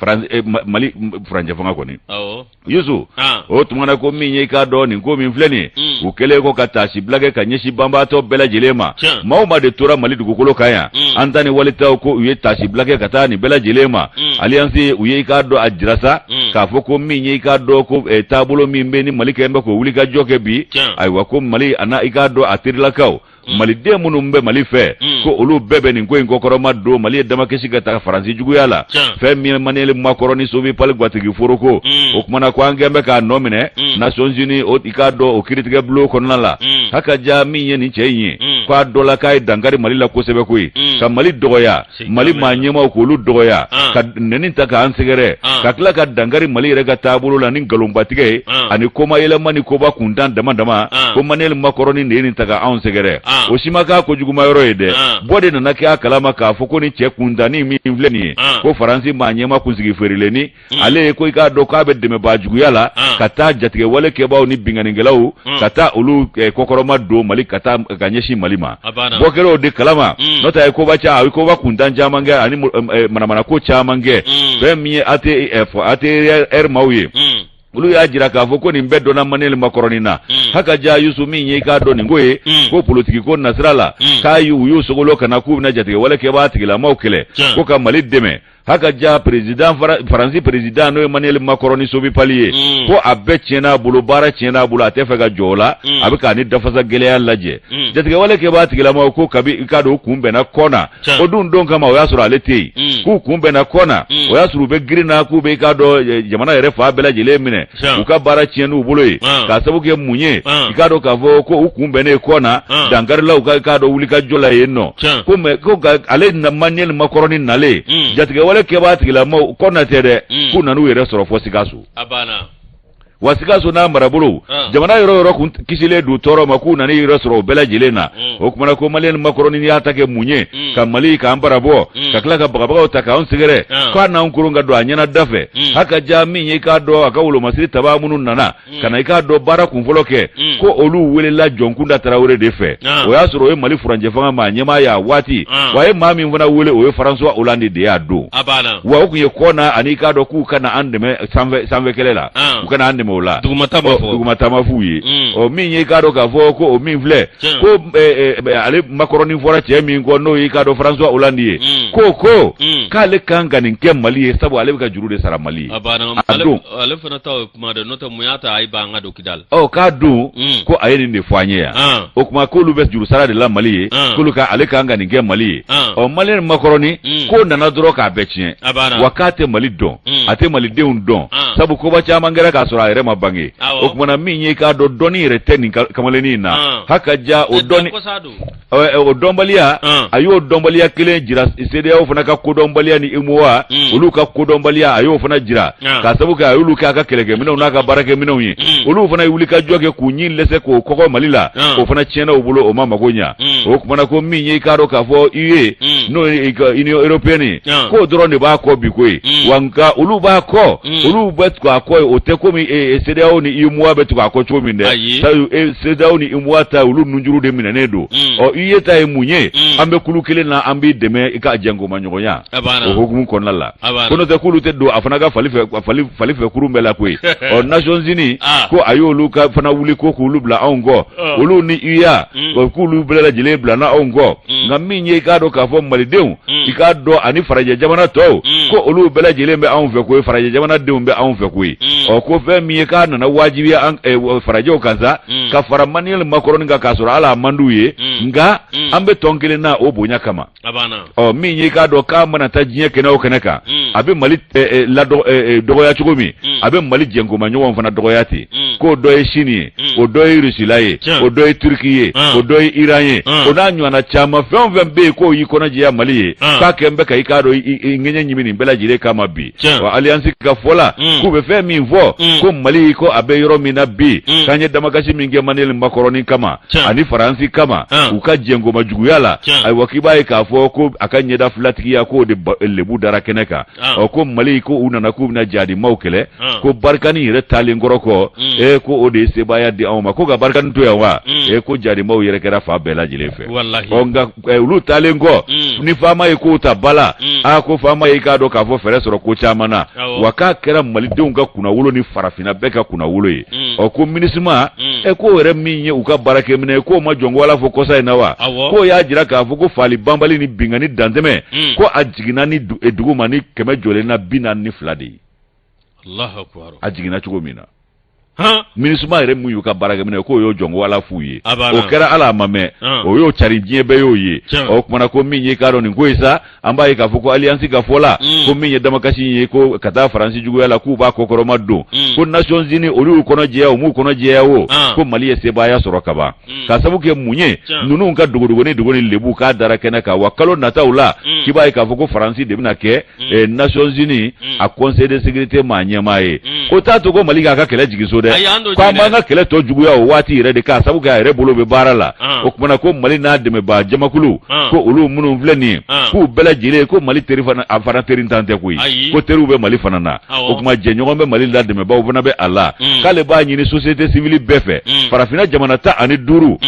Faransi- eh, Ma- mali m- furancɛ fanga kɔni awɔ yusu ah. o tuma na ko min ye i k'a dɔn nin ko min filɛ nin ye mm. u kɛlen kɔ ka taasi bila kɛ ka ɲɛsin banbaatɔ bɛɛ lajɛlen ma maa o maa de tora mali dugukolo kan yan mm. an ta ni wali taw ko u ye taasi bila kɛ ka taa nin bɛɛ lajɛlen ma mm. aliyansi u ye i k'a dɔn a jira sa k'a fɔ ko min ye i k'a dɔn ko eh, taabolo min bɛ ni mali kɛlen bɛ k'o wuli ka jɔ kɛ bi ayiwa ko mali a na i k'a dɔn ATIRlakaw Mm. maliden minnu bɛ mali fɛ mm. ko olu bɛɛ bɛ nin ko in kɔkɔrɔma don mali ye damakasi ka taga faransi juguya la fɛn min ye maniyɛli makɔrɔni sobi pali gwatigi foroko mm. o kumana ko an kɛn bɛ k'a nɔ minɛ nations unis i k'a dɔn o kiritigɛ bulon kɔnɔna la haka ja min ye nin cɛ in ye k'a dɔ la k'a ye dankari mali la kosɛbɛ koyi ka mali dɔgɔya mali maa ɲɛmaw k'olu dɔgɔya ka nɛni ta k'an sɛgɛrɛ ka tila ka dankari mali yɛrɛ ka taabolo la ni nkalonbatigɛ ye ani kuma yɛlɛma ni koba kuntan dama dama ko maniyɛli makɔrɔni nɛni ta ka anw sɛgɛrɛ o si ma k'a ko juguuma yɔrɔ ye dɛ bɔ de nana kɛ a kala ma k'a fɔ ko ni cɛ kuntannin min filɛ nin ye ko faransi maa ɲɛma kunsigi feerileni Mm. ale ye ko i k'a dɔn k'a bɛ dɛmɛbaa juguya la mm. ka taa jatigɛwale kɛbaaw ni binkanikɛlaw mm. ka taa olu eh, kɔkɔrɔma don mali ka taa ka ɲɛsin mali ma bɔ kɛra o de kalama n'o tɛ a ye koba ca a ye koba kuntan caman kɛ ani eh, manamanako caman kɛ fɛn min ye ATIR eh, maaw ye olu y'a jira k'a fɔ ko nin bɛɛ dɔnna maniyɛli makɔrɔnin na mm. haka ja yusu min ye i k'a dɔn nin ko ye mm. ko politiki ko nasira la mm. k'a u y'u sogolo ka na k'u bɛna jatigɛwale kɛbaa tigilamaw kɛlɛ ko ka mali dɛmɛ haka ja peresidan faransi peresidan n'o ye maniyɛli makɔrɔni sobi pali ye ko a bɛɛ tiɲɛna a bolo baara tiɲɛna a bolo a tɛ fɛ ka jɔ la a bɛ ka ni dafasa gɛlɛya lajɛ jatigɛwale kɛbaa tigilama ko kabi i k'a dɔn u kunbɛnna kɔna o dun don kama o y'a sɔrɔ ale tɛ yen k'u kunbɛnna kɔna o y'a sɔrɔ u bɛ girinna k'u bɛ i k'a dɔn jamana yɛrɛ fan bɛɛ lajɛlen minɛ u ka baara tiɲɛna u bolo ye ka sabu kɛ mun ye i k'a dɔn k'a fɔ ko u kunbɛnnen kɔna dankarilaw ka i k'a dɔn wuli ka jɔ la yen ɔ ko mɛ ko ale na Manuel makɔrɔnin nalen hmm. jatigɛwalekɛbaa tigilamaw kɔna tɛ dɛ hmm. k'u nana u yɛrɛ sɔrɔ fɔ sikaso wa sikaso n'a marabolo jamana yɔrɔ yɔrɔ kun kisilen don tɔɔrɔ ma k'u nana yɛrɛ sɔrɔ o bɛɛ lajɛlen na hmm. o tumana ko Manuel makɔrɔnin y'a ta kɛ mun ye ka mali k'an bara bɔ ka tila ka bagabaga ta k'an sɛgɛrɛ k'a n'an k ka don a ɲɛna da fɛ ha ka ja min ye k'a dɔn a ka wolomasiri taba minnu nana ka na i k'a dɔn baara kunfɔlɔ kɛ ko olu weelela jɔnkunda tarawele de fɛ o y'a sɔrɔ o ye mali furancɛ fanga ma ɲɛmaa y'a waati wa a ye maa min fana wele o ye François Hollande de y'a don wa o tun ye kɔna ani k'a dɔn k'u ka na an dɛmɛ sanfɛ kɛlɛ la u ka na an dɛmɛ o la duguma ta ma f'u ye min ye k'a dɔn k'a fɔ ko o min filɛ Tiɲɛ. ko eh, eh, ale makɔrɔnin fɔra cɛ min kɔ n'o y'i k'a dɔn François Hollande ye Mm. ko ko Mm. k'ale kan ka nin kɛ Mali ye sabu ale bɛ ka juru de sara Mali ye a banna a ale don ale fana ta ye kuma dɛ n'o tɛ mun y'a to a y'i ban an ka don kidali ɔ k'a don Mm. ko a ye nin de fɔ an ye yan Ah. o tuma k'olu bɛ juru sara de la Mali ye Ah. k'olu ka ale kan ka nin kɛ Mali ye Ah. ɔ Manuel makɔrɔnin Mm. k'o nana dɔrɔn k'a bɛɛ tiɲɛ a banna wa k'a tɛ Mali dɔn Mm. a tɛ Malidenw dɔn Ah. sabu koba caman kɛra k'a sɔrɔ a yɛrɛ ma bange o tumana min ye k'a dɔn dɔnni yɛrɛ tɛ nin kamalennin in na ha ka ja o dɔn o dɔnbaliya a y'o dɔnbaliya kelen jira CEDEAO fana ka kodɔnbaliya ni UEMOA olu ka kodɔnbaliya a y'o fana jira ka sabu kɛ a y'olu k'a ka kɛlɛkɛminɛnw n'a ka baarakɛminɛnw ye olu fana ye wuli ka jɔ kɛ k'u ɲin lɛsɛ k'o kɔkɔ mali la o fana tiɲɛna u bolo o ma mago ɲɛ o tumana ko min ye k'a dɔn k'a fɔ UE n'o ye Union Européenne k'o dɔrɔn de b'a kɔ bi koyi wa nka olu b'a kɔ Mm. olu bɛ tugu a kɔ ye o tɛ komi ee CEDEAO ni UEMOA bɛ tugu a kɔ cogo min dɛ Ayi. sabu e CEDEAO ni UEMOA ta olu nunjuru de minɛnen don Mm. ɔ UE ta ye mun ye Mm. an bɛ kulu kelen na an b'i dɛmɛ i ka jɛnkomaɲɔgɔnya A banna. o hukumu kɔnɔna la A banna. ko n'o tɛ k'olu tɛ don a fana ka fali fɛ a fali fali fɛ kurun bɛɛ la koyi ɔ Nations Unies Ah. ko a y'olu ka fana wuli ko k'olu bila anw kɔ Ah. olu ni UA Mm. ɔ, k'olu bɛɛ lajɛlen bila na anw kɔ Mm. nka min ye i k'a dɔn k'a fɔ Malidenw i k'a dɔn ani farajɛ jamana tɔw ko olu bɛɛ lajɛlen bɛ anw fɛ koyi farajɛ jamanadenw bɛ anw fɛ koyi ɔ ko fɛn min ye k'a nana wajibiya farajɛw kan sa ka fara Manuel makɔrɔnin kan k'a sɔrɔ ala a man d'u ye nka an bɛ tɔn kelen na o bonya kama ɔ min ye k'a dɔn k'a mana taa diɲɛ kɛnɛ o kɛnɛ kan a bɛ mali ladɔgɔya cogo min a bɛ mali jɛkoma ɲɔgɔn fana dɔgɔya ten k'o dɔ ye sini ye o dɔ ye rusila ye o dɔ ye turiki ye o dɔ ye iran ye o n'a ɲɔgɔnna caman fɛn o fɛn bɛ yen k'o y'i kɔnɔjɛya mali ye k'a kɛlen bɛ ka i k'a dɔn ŋɛɲɛ ɲimi nin bɛɛ lajɛlen kama bi wa alliance ka fɔ la k'u bɛ fɛn min fɔ ko mali ko a bɛ yɔrɔ min na bi k'an ye damakasi min kɛ Manuel makɔrɔnin kama ani faransi kama u ka jɛnkoma juguya la ayiwa k'i b'a ye k'a fɔ ko a ka ɲɛda filatigiya k'o de lebu dara kɛnɛ kan ɔ ko mali ko u nana k'u bɛna jadimaw kɛlɛ ko barikani yɛrɛ taalen kɔrɔ kɔ ee ko o de ye sebaaya di anw ma ko ka barikani to yan wa ee ko jadimaw yɛrɛ kɛra fa bɛɛ lajɛlen fɛ eh, olu taalen kɔ Mm. ni faama ye kow ta bala Mm. a ko faama ye k'a dɔn k'a fɔ fɛɛrɛ sɔrɔ ko caman na Awɔ. wa k'a kɛra malidenw ka kunnawolo ni farafinna bɛɛ ka kunnawolo ye Mm. ɔ ko minisima Mm. ɛ k'o yɛrɛ min ye u ka baarakɛminɛ k'o ma jɔn ko ala fɔ kɔsa in na wa Awɔ. k'o y'a jira k'a fɔ ko faali banbali ni binkanni dantɛmɛ Mm. ko a jiginna ni du- eh, dugu ma ni kɛmɛ jɔlen na bi naani ni fila de ye a jiginna cogo min na minisima yɛrɛ min y'u ka baarakɛminɛ k'o y'o jɔn ko ala f'u ye o kɛra ala a ma mɛn o y'o cari diɲɛ bɛɛ y'o ye o tuma na ko min ye k'a dɔn nin ko ye sa an b'a ye k'a fɔ ko aliyansi ka fɔ la mm. ko min ye damakasi ye ko ka taa faransi juguya la k'u b'a kɔkɔrɔma don mm. ko Nations Unies olu y'u kɔnɔ jɛya o m'u kɔnɔ jɛya o ko mali ye sebaaya sɔrɔ ka ban mm. ka sabu kɛ mun ye ninnu ka dogodogoni lebu k'a dara kɛnɛ kan wa kalo nataw la k'i b'a ye k'a fɔ ko faransi de bɛna kɛ Nations Unies a Conseil de sécurité maa ɲɛmaa ye o t'a to ko mali k'a ka kɛlɛ jigin so dɛ k'an b'an ka kɛlɛ tɔ juguya o waati yɛrɛ de k'a sabu kɛ a yɛrɛ bolo bɛ baara la o tuma na ko mali n'a dɛmɛbaa jamakulu ko olu minnu filɛ nin ye k'u bɛɛ lajɛlen ko mali teri a fana terintan tɛ koyi ko teriw bɛ mali fana na o tuma jɛɲɔgɔn bɛ mali la dɛmɛbaaw fana bɛ a la k'ale b'a ɲini société civile bɛɛ fɛ farafinna jamana tan ani duuru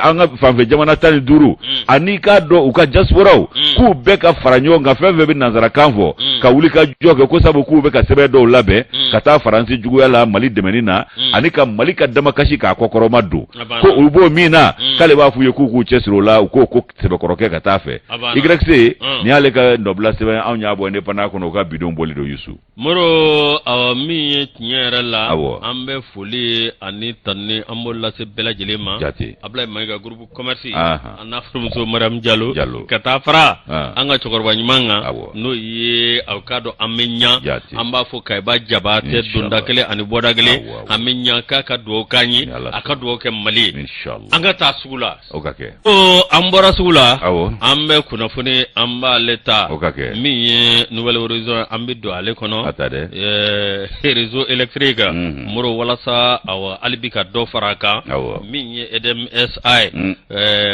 an ka fanfɛ jamana tan ni duuru ani k'a dɔn u ka diasporaw k'u bɛɛ ka fara ɲɔgɔn kan fɛn fɛn bɛ nansarakan fɔ ka wuli ka jɔ kɛ ko sabu k'u bɛ ka sɛbɛn dɔw labɛn ka taa faransi juguya la mali dɛmɛni na ani ka mali ka damakasi k'a kɔkɔrɔma don ko u b'o min na k'ale b'a f'u ye k'u k'u cɛsiri o la u k'o ko sɛbɛkɔrɔ kɛ ka taa fɛ YC nin y'ale ka nɔbila sɛbɛn anw y'a bɔ Indépendant kɔnɔ u ka bi don bɔli don Yusu Moro awa min ye tiɲɛ yɛrɛ la an bɛ foli ani tanuni an b'o lase bɛɛ lajɛlen ma abilayi mayiga groupe commerce a n'a furumuso mariyamu jalo ka taa fara an ka cɛkɔrɔba ɲuman kan n'o ye aw k'a dɔn an bɛ ɲɛ an b'a fɔ kayiba jabatɛ donda kelen ani bɔda kelen an bɛ ɲɛ k'a ka dugawu k'an ye a ka dugawu kɛ mali ye an ka taa sugu la O ka kɛ ko an bɔra sugu la an bɛ kunnafoni an b'ale ta o ka kɛ min ye Nouvel Horizon an bɛ don ale kɔnɔ dɛ réseau électrique Moro walasa hali bi ka dɔ fara a kan min ye EDM SA ye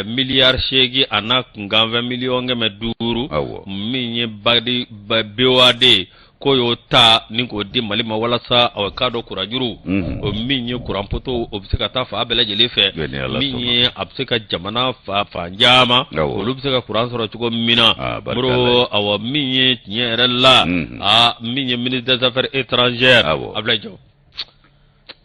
miliyari seegin a n'a kunkanfɛn miliyɔn kɛmɛ duuru min ye ba BOAD ye ko y'o ta ni k'o di mali ma walasa aw k'a dɔn kuranjuru o min ye kuran poto o bɛ se ka taa fa bɛɛ lajɛlen fɛ min ye a bɛ se ka jamana fa fan caman olu bɛ se ka kuran sɔrɔ cogo min na Moro awa min ye tiɲɛ yɛrɛ la aa min ye ministre des affaires étrangères abilayi jɔ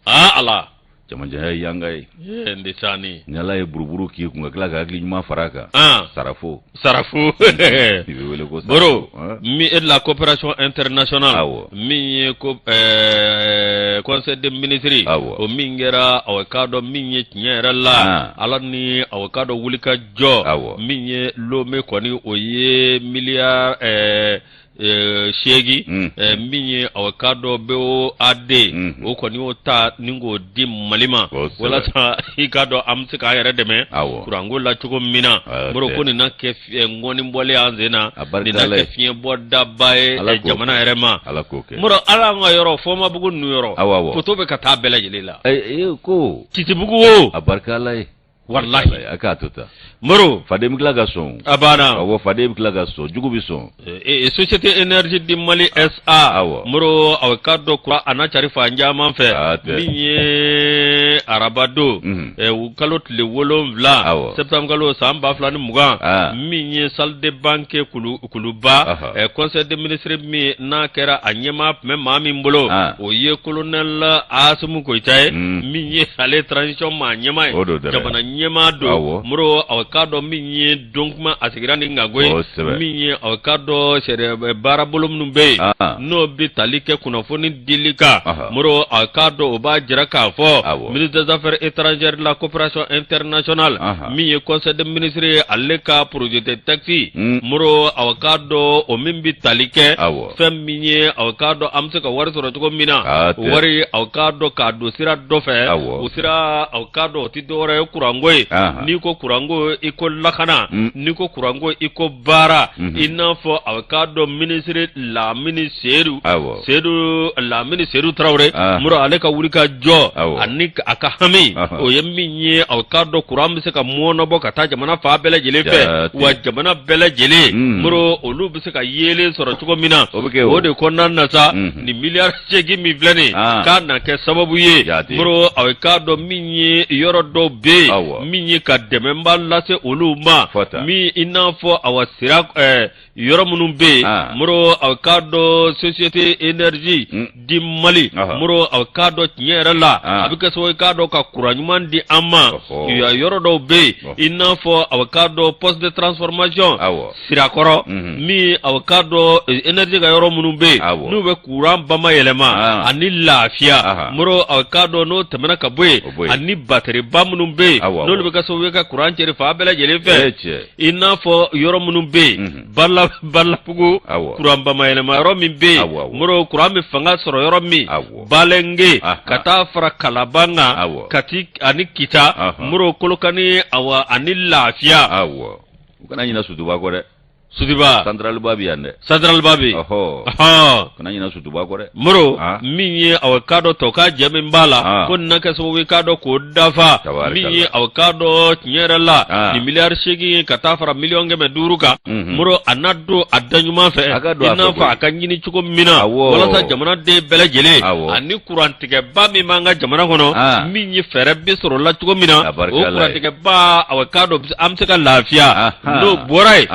aa ala jamanjanya ye yanga ye ee n sa ni ni ala ye buruburu k'i kun ka tila ka hakili ɲuman fara a kan sarafo sarafo moro mi e la coopération internationale awɔ min ye ko ɛɛ conseil des ministres awɔ o min kɛra aw k'a dɔn min ye tiɲɛ yɛrɛ la ala ni aw k'a dɔn wuli ka jɔ awɔ min ye lome kɔni o ye miliyari ɛɛ eh, seegin Mm. eh, min ye aw k'a dɔn BOAD Mhm. o kɔni y'o ta ni k'o di mali ma Kosɛbɛ. walasa i k'a dɔn an bɛ se k'an yɛrɛ dɛmɛ Awɔ. kuranko la cogo min na Hatɛ. moro ko nin na kɛ fi- eh, ŋɔni bɔlen an sen na A barika nin na Ala ye. kɛ fiɲɛ bɔda ba ye Ala eh, k'o jamana kɛ. yɛrɛ ma ala k'o kɛ moro ala an ka yɔrɔ fɔnbabugu ninnu yɔrɔ Awɔ, awɔ. poto bɛ ka taa bɛɛ lajɛlen la Ɛ, ɛ, ko titibugu o a barika ala ye walahi a k'a to ta moro faden bɛ tila ka sɔn a banna aw faden bɛ tila ka sɔn jugu bɛ sɔn ee société énergie di mali sa aw moro aw k'a dɔn kuran a na cari fan caman fɛ min ye arabadon u kalo tile wolonwula septembre kalo san ba fila ni mugan min ye salle de banquet kulu kuluba conseil des ministres min n'a kɛra a ɲɛmaa tun bɛ maa min bolo o ye kolonɛli asimi koyita ye min ye ale transition maa ɲɛmaa ye jamana ɲɛmaa don moro a k'a dɔn min ye don kuma a sigira ni nkago min ye a k'a dɔn sɛ baara bolo minnu bɛ yen n'o bɛ tali kɛ kunnafoni dili kan moro a k'a dɔn o b'a jira k'a fɔ ministre des affaires étrangères de la coopération internationale min ye conseil des ministres ale ka projet de texte Mm. moro aw k'a dɔn o min bi tali kɛ Awɔ. fɛn min ye aw k'a dɔn an bɛ se ka wari sɔrɔ cogo min na Hatɛ. wari aw k'a dɔn k'a don sira dɔ fɛ Awɔ. o sira aw k'a dɔn o tɛ dɔwɛrɛ ye kuranko ye Ahan. n'i ko kuranko i ko lakana Mm. n'i ko kuranko i ko baara mhm. i n'a fɔ a k'a dɔn minisiri lamini seyidu seyidu lamini seyidu tarawele ah. moro ale ka wuli ka jɔ ani a ka hami o ye min ye a k'a dɔn kuran bɛ se ka mɔɔnɔbɔ ka taa jamana fan bɛɛ lajɛlen fɛ wa jamana bɛɛ lajɛlen mm. moro olu bɛ se ka yeelen sɔrɔ cogo min na o de kɔnɔna na sa mhm. nin miliyari seegin min filɛ nin ah. k'a na kɛ sababu ye moro a ye k'a dɔn min ye yɔrɔ dɔw bɛ yen min ye ka dɛmɛba lase olu ma min i n'a fɔ awa sira eh, yɔrɔ minnu bɛ yen ah. moro a ye k'a dɔn société énergie hmm. di mali moro a ye k'a dɔn tiɲɛ yɛrɛ la ah. a bɛ kɛ sababu ye k'a dɔn ka kuran ɲuman di an ma yan yɔrɔ dɔw bɛ yen i n'a fɔ a ye k'a dɔn poste de transformation sirakɔrɔ min aw k'a dɔn énergie ka yɔrɔ minnu bɛ yen n'u bɛ kuran bayɛlɛma ani lafiya moro aw k'a dɔn n'o tɛmɛna ka bɔ yen ani bateri ba minnu bɛ yen n'olu bɛ kɛ sabu ye ka kuran cɛri fan bɛɛ lajɛlen fɛ i n'a fɔ yɔrɔ minnu bɛ yen balabugu kuran bayɛlɛma yɔrɔ min bɛ yen moro kuran bɛ fanga sɔrɔ yɔrɔ min balenge ka taa fara kalaban kan kati ani kita moro kolokani ani lafiya u kana ɲina sutuba kɔ dɛ sutuba central ba bɛ yan dɛ central ba bɛ ɔɔ kana ɲina sutuba kɔ dɛ moro min ye aw k'a dɔn tɔ ka jɛ min b'a la ko na kɛ sababu k'a dɔn k'o dafa min ye aw k'a dɔn tiɲɛ yɛrɛ la nin miliyari segin ka taa fara miliyɔn kɛmɛ duuru kan moro a na don a da ɲuman fɛ i n'a fɔ a ka ɲini cogo min na walasa jamanaden bɛɛ lajɛlen kurantigɛba min b'an ka jamana kɔnɔ ah. min ye fɛɛrɛ bɛ sɔrɔ la cogo min na o kurantigɛba aw k'a dɔn an bɛ se ka lafiya ah, ah. n'o bɔra yen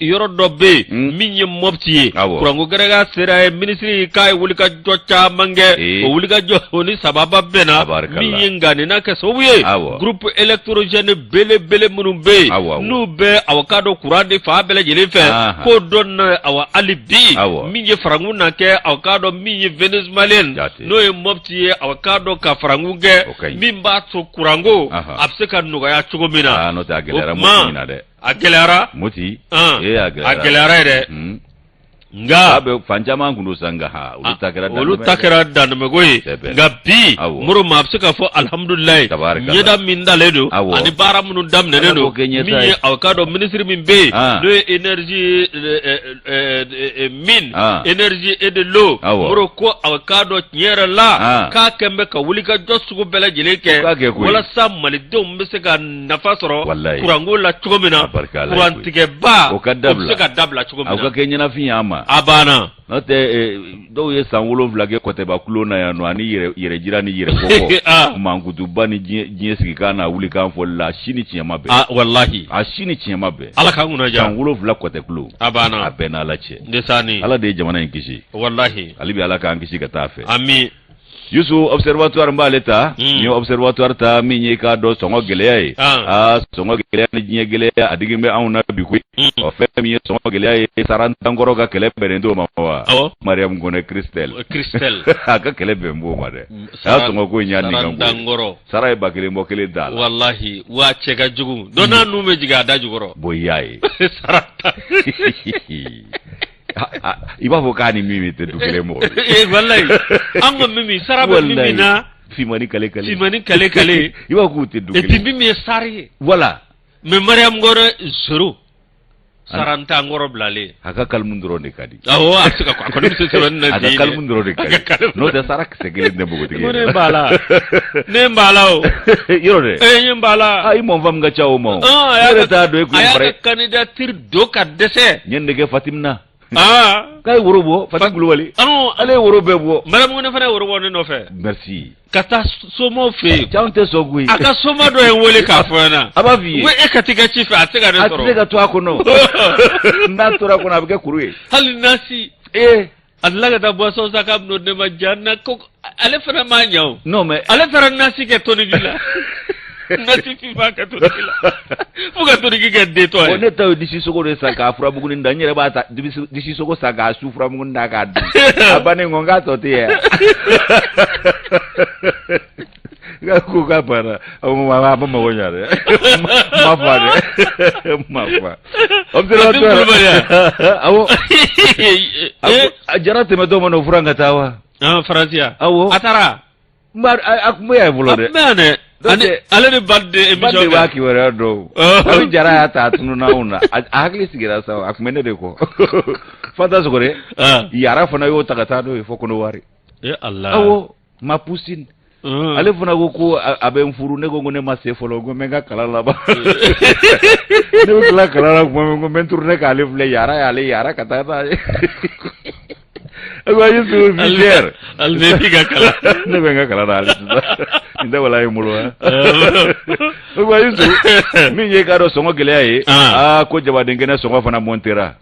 yɔrɔ dɔ bɛ yen hmm. min ye mɔpti ye kuranko gɛrɛka sera yen minisiri k'a ye wulikajɔ caman kɛ eh. o wulikajɔ o ni sababa bɛnna min ye nka nin na kɛ sababu ye groupe électrogène belebele minnu bɛ yen Awɔ, awɔ. n'u bɛ aw k'a dɔn kuran di fan bɛɛ lajɛlen fɛ Ahan. k'o donna awa hali bi Awɔ. min ye farankun na kɛ aw k'a dɔn min ye vénézuélien Jate. n'o ye mɔpti ye aw k'a dɔn ka farankun kɛ O ka ɲi. min b'a to kuranko Ahan. a bɛ se ka nɔgɔya cogo min na Aa, n'o tɛ a gɛlɛyara o tuma, Mopti in na dɛ. a gɛlɛyara moti An. ee a gɛlɛyara a gɛlɛyara yɛrɛ Mm. nka a bɛ fan caman tun san nka olu ta kɛra olu ta kɛra danmako ye nka bi moro maa bɛ se k'a fɔ alihamudulilayi ɲɛda min dalen don ani baara minnu daminɛnen don min ye aw k'a dɔn minisiri min bɛ yen n'o ye énergie min énergie et de l'eau moro ko aw k'a dɔn tiɲɛ yɛrɛ la k'a kɛn bɛ ka wulikajɔ sugu bɛɛ lajɛlen kɛ walasa malidenw bɛ se ka nafa sɔrɔ kuranko la cogo min na kurantigɛba bɛ se ka dabila cogo min na aw k'a kɛ ɲɛnafin y'an ma a banna n'o tɛ dɔw ye san wolonwula kɛ kɔtɛba kulo na yan nɔ ani yɛrɛ jira ni yɛrɛ fɔ. mankutu ba ni diɲɛ sigikan n'a wulikan fɔ la si ni tiɲɛ ma bɛn ah, walahi a si ni tiɲɛ ma bɛn ala ka kunna jan san wolonwula kɔtɛ kulo a banna a b'an n' ala cɛ ala de ye jamana in kisi walahi hali bi ala k'an kisi ka taa fɛ Yusu observatoire b'ale ta Mm. n'i ye observatoire ta min ye k'a dɔn sɔngɔ gɛlɛya ye Ah. aa sɔngɔ gɛlɛya ni diɲɛ gɛlɛya a digin bɛ anw na bi koyi Mm. ɔ fɛn min ye sɔngɔ gɛlɛya ye Sarata n kɔrɔ ka kɛlɛ bɛnnen t'o ma wa Awɔ. mariam kɔnɛ christelle O Christelle. a ka kɛlɛ bɛn b'o ma dɛ Mm, a y'a sɔngɔ ko in y'a sara nikan ko ye. ntankɔrɔ. sara ye ba kelen bɔ kelen da la Walahi, wa cɛ ka jugu. Dɔnna n'u bɛ jigin a da jukɔrɔ. bɔn i y'a ye Sarata. i b'a fɔ k'a ni Mimi tɛ du kelen mɔgɔ eh, walayi an ko Mimi sara bɛ Mimi na fimani kale kale fimani kale kale i b'a fɔ k'u tɛ du kelen et puis Mimi ye sara ye voilà mais Mariyamu Kɔnɛ zéro sarantan kɔrɔ bilalen a ka kalimu dɔrɔn de ka di awɔ a bɛ se ka a kɔni bɛ se sɛbɛnni na a ka kalimu dɔrɔn de ka di n'o tɛ sara kisɛ kelen tɛ npogotigi ye ne b'a la ne b'a la o yɔrɔ dɛ ee n b'a la i mɔnfam ka ca o ma o ne yɛrɛ t'a dɔn e kun ye bara ye a y'a ka kandidatiri don ka dɛsɛ n ye nin de kɛ Fatim na aa k'a ye woro bɔ Fatim Kulubali anu ale ye woro bɛɛ bɔ Maramu Kɔnɛ fana ye woro bɔ ne nɔfɛ merci ka taa somaw fɛ yen cɛ anw tɛ sɔn koyi a ka soma dɔ ye n wele k'a fɔ n ɲɛna a b'a f'i ye e ka t'i ka ci fɛ a tɛ se ka ne sɔrɔ a tɛ se ka to a kɔnɔ n'a tora a kɔnɔ a bɛ kɛ kuru ye hali nasi ee A tila ka taa bɔsɔn sa ka don ne ma ja na ko ale fana ma ɲa non mais ale taara nasi kɛ tɔnni ji la nasifin'a kɛ to la fo ka tɔnni kɛ den tɔ ye ne ta ye disi sogo de san k'a furamugunin da n yɛrɛ b'a disi sogo san k'a su furamugunin da k'a dun a ban k'a tɔ tɛ ye nka ko k'a banna a ko ma a ma mago ɲa dɛ ma fa dɛ ma fa awo a jara tɛmɛ dɔ ma na o furu ka taa wa Faransi awo a taara a kun bɛ y'a bolo dɛ ale ni ba de emission de b'a kibaruya dɔw a jara y'a ta a tununa anw na a hakili sigira sa a tun bɛ ne de kɔ fata sɔgɔ dɛ yara fana y'o ta ka taa n'o ye fo Kɔnɔwari awo ma pusi ale fana ko ko a bɛ n furu ne ko ko ne ma se fɔlɔ ko n ka kalan laban ne bɛ tila kalan tuma ko n turu ne k'ale filɛ yaara y'ale yaara ka taa taa ye ne bɛ n ka kalan na ale nin tɛ wala ye bolo wa min ye i k'a dɔn sɔngɔ gɛlɛya ye aa ko jabaden kɛnɛ sɔngɔ fana mɔntera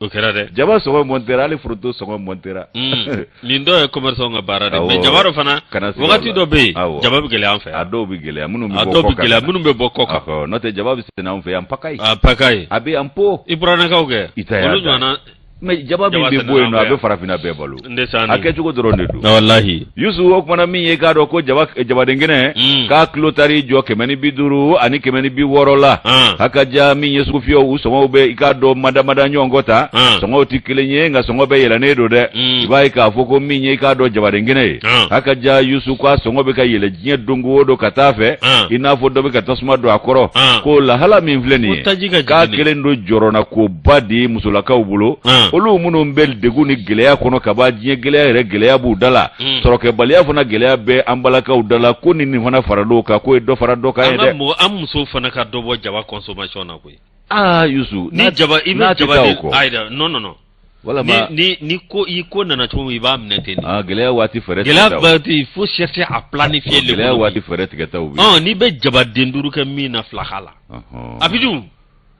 o kɛra dɛ jaba sɔngɔ mɔntera hali foronto sɔngɔ mɔntera mm. nin dɔw ye commerçant ka baara de mais jaba dɔ fana wagati dɔ bɛ yen jaba bɛ gɛlɛya an fɛ a dɔw bɛ gɛlɛya minnu bɛ bɔ kɔ kan a dɔw bɛ gɛlɛya minnu bɛ bɔ kɔ kan n'o tɛ jaba bɛ sɛnɛ anw fɛ yan pagaille en pagaille a bɛ yan po i buranakaw kɛ olu ɲɔgɔnna mais jaba min bɛ bɔ yen non a bɛ farafinna bɛɛ balo a kɛcogo dɔrɔn de don walahi yusu o kuma na min ye i k'a dɔn ko jabadenkɛnɛ mm. k'a kilo taar'i jɔ kɛmɛ ni bi duuru ani kɛmɛ ni bi wɔɔrɔ la ah. a ka ja min ye sugufiyɛw u sɔngɔw bɛ i k'a dɔn madamada ɲɔgɔn kɔ ta ah. sɔngɔw tɛ kelen ye nka sɔngɔ bɛɛ yɛlɛnnen don dɛ mm. i b'a ye k'a fɔ ko min ye i k'a dɔn jabadenkɛnɛ ye ah. a ka ja yusu k'a sɔngɔ bɛ ka yɛlɛ diɲɛ don o don ka taa fɛ i n'a fɔ dɔ bɛ ka tasuma don a kɔrɔ ko lahala min filɛ nin ye k'a kɛlen don jɔrɔnanko ba de ye musolakaw bolo Anhan. olu minnu bɛ degun ni gɛlɛya kɔnɔ kaban diɲɛ gɛlɛya yɛrɛ gɛlɛya b'u da la Mm. sɔrɔkɛbaliya fana gɛlɛya bɛ an balakaw da la ko ni nin fana fara dɔw kan k'o ye dɔ fara dɔ kan ye an ka dɛ mɔgɔ an musow fana ka dɔ bɔ jaba consommation na koyi aa yusu ni jaba i n'a bɛ tɛ jaba taa o de kɔ ayi da non non non ni walama ni ni ko i ko nana cogo min i b'a minɛ ten de aa gɛlɛya waati fɛɛrɛ gɛlɛya tigɛtaw. waati il faut chercher à planifier le gɛlɛya coup. waati fɛɛrɛ tigɛtaw bɛ yen. Ɔn, n'i bɛ jabaden duuru kɛ min na fila k'a la Ɔhɔn. a bɛ dun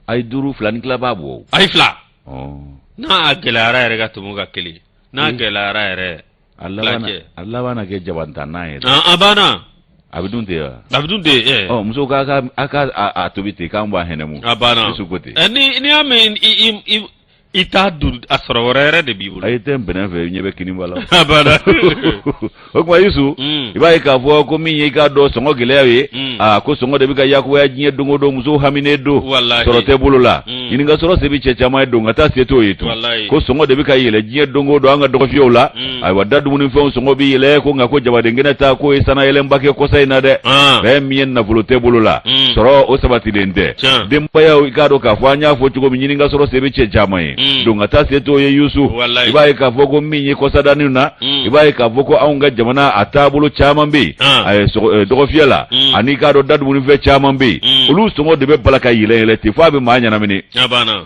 a ye duuru fila ni tila b'a bɔ a ye fila n'a gɛlɛyara yɛrɛ ka tɛmɛ ka kelen n'a hmm. gɛlɛyara yɛrɛ a a laban na kɛ jabantan n'a yɛrɛ a banna a bɛ dun tɛ wa a bɛ dun tɛ ɛ muso k'a ka a ka a tobi ten k'an b'a hɛnɛmu a banna ko ten n'i y'a mɛn i t'a dun a sɔrɔ wɛrɛ yɛrɛ de b'i bolo. ayi tɛ n bɛnɛ fɛ ɲɛ bɛ kini b'a la. abada. o kuma Yusu. Mm. i b'a ye k'a fɔ ko min ye i k'a dɔn sɔngɔ gɛlɛya ye. Mm. aa ko sɔngɔ de bɛ ka yakubaya diɲɛ don o don musow haminen don. walayi sɔrɔ tɛ bolo la. Mm. ɲini ka sɔrɔ se bɛ cɛ caman ye don ka taa se t'o ye tun. walayi ko sɔngɔ de bɛ ka yɛlɛ diɲɛ don o don an ka dɔgɔfiyɛw la. ayiwa da dumunifɛnw sɔngɔ bɛ yɛlɛ ko nka ko jabadenkɛnɛ ta k'o ye sannayɛlɛnba kɛ kɔsa in na dɛ fɛn min ye nafolo tɛ bolo la sɔrɔ o sabatilen tɛ denbayaw i k'a dɔn k'a fɔ an y'a fɔ cogo min ɲini ka sɔrɔ se bɛ cɛ caman ye don ka taa se t'o ye yusu i b'a ye k'a fɔ ko min ye kɔsadanin na i b'a ye k'a fɔ ko anw ka jamana a taabolo caman bɛ yen eh, dɔgɔfiyɛ la ani i k'a dɔn da dumunifɛn caman bɛ yen olu sɔngɔ de bɛ bala ka yɛlɛ yɛlɛ ten f'a bɛ maa ɲɛnamini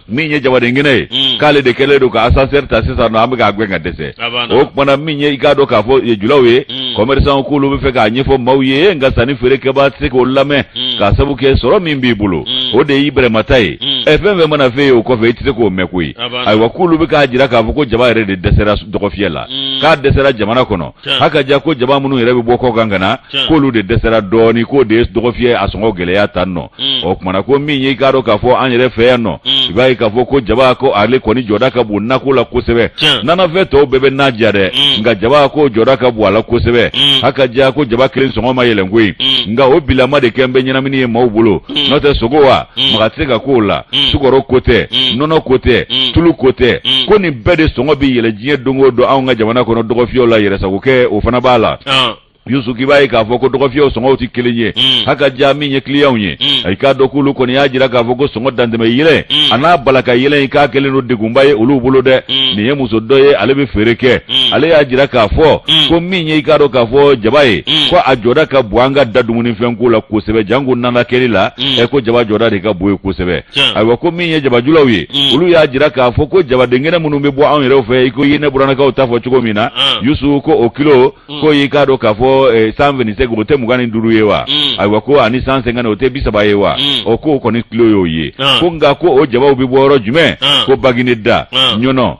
min ye jabadenkɛnɛ ye hmm. k'ale de kɛlen don ka ascenseur ta sisan nɔ an bɛ k'a gɛn ka dɛsɛ o kuma na min ye i k'a dɔn k'a fɔ julaw ye hmm. commerçant k'olu bɛ fɛ k'a ɲɛfɔ maaw ye nka sanni feerekɛbaa tɛ se k'o lamɛn hmm. k'a sabu kɛ sɔrɔ min b'i bolo o de y'i bɛrɛmata ye ɛ fɛn fɛn mana f'e ye o kɔfɛ i tɛ se k'o mɛn koyi ayiwa k'olu bɛ k'a jira k'a fɔ ko jaba yɛrɛ de dɛsɛra dɔgɔfiyɛ la k'a dɛsɛra jamana kɔnɔ haka ja ko jaba minnu yɛrɛ bɛ bɔ kɔ kan ka na k'olu de dɛsɛra dɔɔni k'o de ye dɔgɔfiyɛ a sɔngɔ gɛlɛya tan nɔ mm. o kuma na ko min y'i k'a dɔn k'a fɔ an yɛrɛ fɛ yan nɔ mm. i b'a ye k'a fɔ ko jaba ko ale kɔni jɔda ka bon nako la kosɛbɛ nanafɛn tɔw bɛɛ bɛ na diya dɛ mm. nka jaba ko jɔda ka bon a la kosɛbɛ haka ja ko jaba kelen sɔngɔ ma yɛlɛn koyi nka o bilama de kɛlen bɛ ɲɛnamini ye maaw bolo n'o tɛ sogo wa Mm. maga tɛ se ka k'o la mm. sukɔrɔ ko tɛ mm. nɔnɔ ko tɛ tulu ko tɛ ko nin bɛɛ de sɔngɔ bɛ yɛlɛ diɲɛ don o don anw ka jamana kɔnɔ dɔgɔfiyɛw la yɛrɛsagokɛ o fana b'a la ah. Yusu k'i b'a ye k'a fɔ ko dɔgɔfiyɛw sɔngɔw tɛ kelen ye haka ja min ye kiliyanw ye i k'a dɔn k'olu kɔni y'a jira k'a fɔ ko sɔngɔ dantɛmɛ yɛlɛ a n'a bala ka yɛlɛ in k'a kɛlen don degunba ye olu bolo dɛ nin ye muso dɔ ye ale bɛ feere kɛ ale y'a jira k'a fɔ ko min ye i k'a dɔn k'a fɔ jaba ye ko a jɔda ka bon an ka da dumunifɛnko la kosɛbɛ janko na kɛli la ɛ ko jaba jɔda de ka bon yen kosɛbɛ ayiwa ko min ye jabajulaw ye olu y'a jira k'a fɔ ko jabadenkɛnɛ minnu bɛ bɔ anw yɛrɛw fɛ i ko i ye ne buranakaw ta fɔ cogo min na yusu ko o kilo ko y'i k'a dɔn k'a fɔ cent vingt-cinq o tɛ mugan ni duuru ye wa ayiwa ko ani cent cinquante o tɛ bi saba ye wa ɔ k'o kɔni kilo y'o ye ko nka ko o jabaw bɛ bɔ yɔrɔ jumɛn ko baginɛda ɲɔnɔ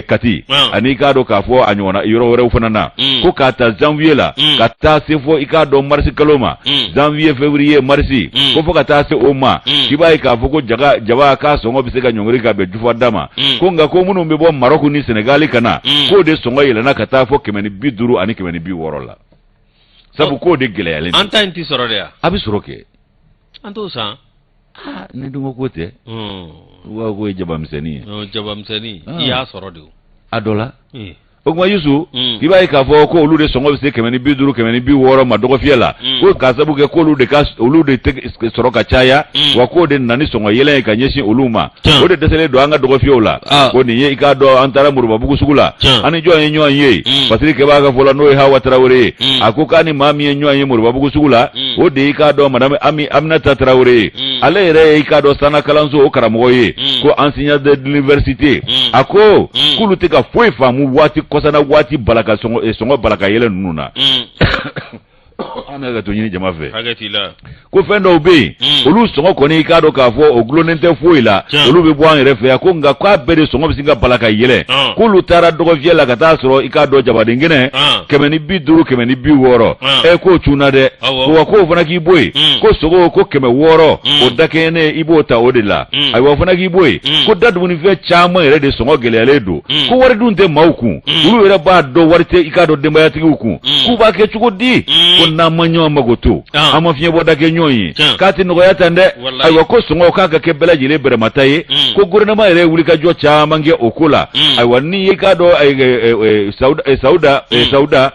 kati ani i k'a dɔn k'a fɔ a ɲɔgɔnna yɔrɔ wɛrɛw fana na ko k'a ta janvier la ka taa se fɔ i k'a dɔn marisi kalo ma Mm. janvier février mars Mm. ko fo ka taa se o ma Mm. k'i b'a ye k'a fɔ ko ja jaba k'a sɔngɔ bɛ se ka ɲɔngiri ka bɛn jufa da ma Mm. ko nka ko minnu bɛ bɔ maroc ni senegali ka na Mm. k'o de sɔngɔ yɛlɛnna ka taa fɔ kɛmɛ ni bi duuru ani kɛmɛ ni bi wɔɔrɔ la sabu Oh. k'o de gɛlɛyalen don an ta in tɛ sɔrɔ de ya a bɛ sɔrɔ kɛ an t'o san aa ne dun ko k'o tɛ u b'a fɔ k'o ye jabamisɛnnin ye Ɔ, jabamisɛnnin Ah. i y'a sɔrɔ de a dɔ la Eh, o kuma yusu Mm. i b'a ye k'a fɔ ko olu de sɔngɔ bɛ se kɛmɛ ni bi duuru kɛmɛ ni bi wɔɔrɔ ma dɔgɔfiyɛ la Mm. ko k'a sabu kɛ k'olu de ka olu de tɛ sɔrɔ ka caya Mm. wa k'o de nana ni sɔngɔ yɛlɛ ye ka ɲɛsin olu ma Tiɲɛ. o de dɛsɛlen don an ka dɔgɔfiyɛw la Ah. ko nin ye i k'a dɔn an taara moribabugu sugu la Tiɲɛ. an ni jɔn ye ɲɔgɔn ye Mm. parce que kɛbaa ka fɔ la n'o ye Hawa Tarawele ye Mm. a ko k'a ni maa min ye ɲɔgɔn ye moribabugu sugu la Mm. o de y'i k'a dɔn madame Ami Aminata Tarawele ye Mm. ale yɛrɛ ye i k'a dɔn sanna kalanso o karamɔgɔ ye Mm. ko enseignant de l'université Mm. a ko Mm. k'olu tɛ ka foyi faamu waati kɔsa na waati balaka sɔngɔ eh, sɔngɔ balaka yɛlɛ ninnu na Mm. an bɛ hakɛto ɲini jama fɛ ko fɛn dɔw bɛ yen hmm. olu sɔngɔ kɔni i k'a dɔn k'a fɔ o dulonnen tɛ foyi la olu bɛ bɔ an yɛrɛ fɛ yan ko nka k'a bɛɛ de sɔngɔ bɛ sin ka bala ka yɛlɛ ah. k'olu taara dɔgɔfiyɛ la ka taa sɔrɔ i k'a dɔn jabaden kɛnɛ ah. kɛmɛ ni bi duuru kɛmɛ ni bi wɔɔrɔ ah. ɛ k'o cunna dɛ wa k'o fana k'i bɔ yen hmm. ko sogo ko kɛmɛ wɔɔrɔ hmm. o dakɛɲɛnen i b'o ta o de la ayiwa o fana k'i bɔ yen ko da dumunifɛn caman yɛrɛ de sɔngɔ gɛlɛyalen don ko wari dun tɛ maaw kun olu yɛrɛ b'a dɔn wari tɛ i k'a dɔn denbayatigiw kun k'u b'a kɛ cogo di ko n'an ma ɲɔgɔn makoto an ma fiɲɛbɔda kɛ ɲɔgɔn ye k'a tɛ nɔgɔya tan dɛ ayiwa ko sɔngɔw k'a ka kɛ bɛɛ lajɛlen bɛrɛmata ye ko gouvernement yɛrɛ ye wulikajɔ caman kɛ o ko la ayiwa nin ye i k'a dɔn sawuda sawuda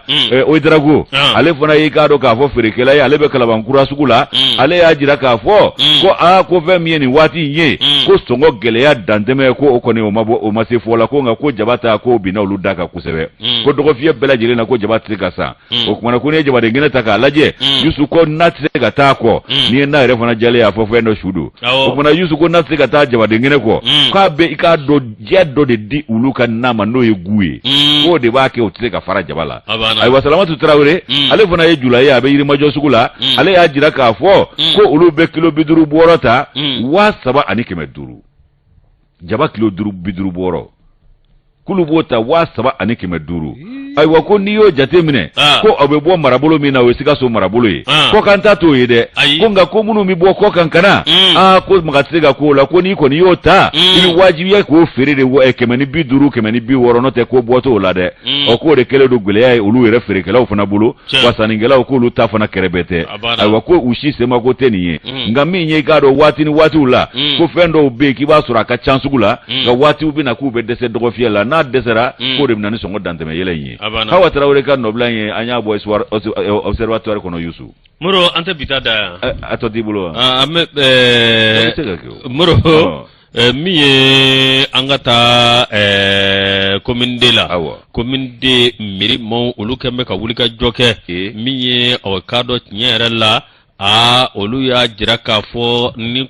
ouédraogo ale fana y'i k'a dɔn k'a fɔ feerekɛla ye ale bɛ kalabankura sugu la ale y'a jira k'a fɔ ko aa ko fɛn min ye nin waati ye mm. ko sɔngɔ gɛlɛya dantɛmɛ ye ko o kɔni o ma se fɔ la ko nka ko jaba ta ko binna olu da kan kosɛbɛ mm. ko dɔgɔfiyɛ bɛɛ lajɛlen na ko jaba tɛ se ka san mm. o kuma na ko n'i ye jabaden kɛnɛ ta k'a lajɛ yusu ko na tɛ se ka taa a kɔ n'i ye na yɛrɛ fana jalen y'a fɔ fɛn dɔ su don o kuma na yusu ko na tɛ se ka taa jabaden kɛnɛ kɔ k'a bɛ i k'a dɔn diya dɔ de di olu ka na ma n'o ye goût ye mm. k'o de b'a kɛ o tɛ se ka fara jaba la ayiwa salamatu tarawele mm. ale fana ye jula ye a bɛ yirimajɔ sugu la mm. ale y'a jira k'a fɔ ko olu bɛ kilo bi duuru bɔɔrɔ ta waa saba ani kɛmɛ duuru jaba kilo duuru bi duuru bɔɔrɔ k'olu b'o ta waa saba ani kɛmɛ duuru ayiwa ko n'i y'o jate minɛ ah. ko a bɛ bɔ marabolo min na o ye sikaso marabolo ye ah. kɔkan ta t'o ye dɛ ko nka ko minnu bɛ bɔ kɔkan ka na hmm. aa ah, ko maga tɛ se ka k'o la ko n'i kɔni y'o ta hmm. i bɛ wajibiya k'o feere de eh, kɛmɛ ni bi duuru kɛmɛ ni bi wɔɔrɔ n'o tɛ ko bɔ t'o la dɛ hmm. ɔ k'o de kɛlen don gɛlɛya ye olu yɛrɛ feerekɛlaw fana bolo wa sannikɛlaw k'olu ta fana kɛrɛbɛtɛ ayiwa ko u si semako tɛ nin ye mm. nka min ye i k'a dɔn waati ni waatiw la mm. ko fɛn dɔw bɛ yen k'i b'a sɔrɔ a ka ca sugu la mm. nka waatiw bɛ na k'u bɛ dɛsɛ dɔgɔfiyɛ la n'a dɛsɛra k'o de bɛ na ni sɔngɔ dantɛmɛ yɛlɛn in ye Hawa Tarawele ka nɔbila in ye an y'a bɔ observatoire kɔnɔ Yusu. Moro an tɛ bi ta dan yan. A tɔ t'i bolo wa. Ah, an bɛ ɛɛ. Moro. Ɛɛ min ye an ka taa ɛɛ commune 2 la, awɔ, commune 2 mairie maaw olu kɛlen bɛ ka wulikajɔ kɛ, ee, min ye aw k'a dɔn tiɲɛ yɛrɛ la aa olu y'a jira k'a fɔ ni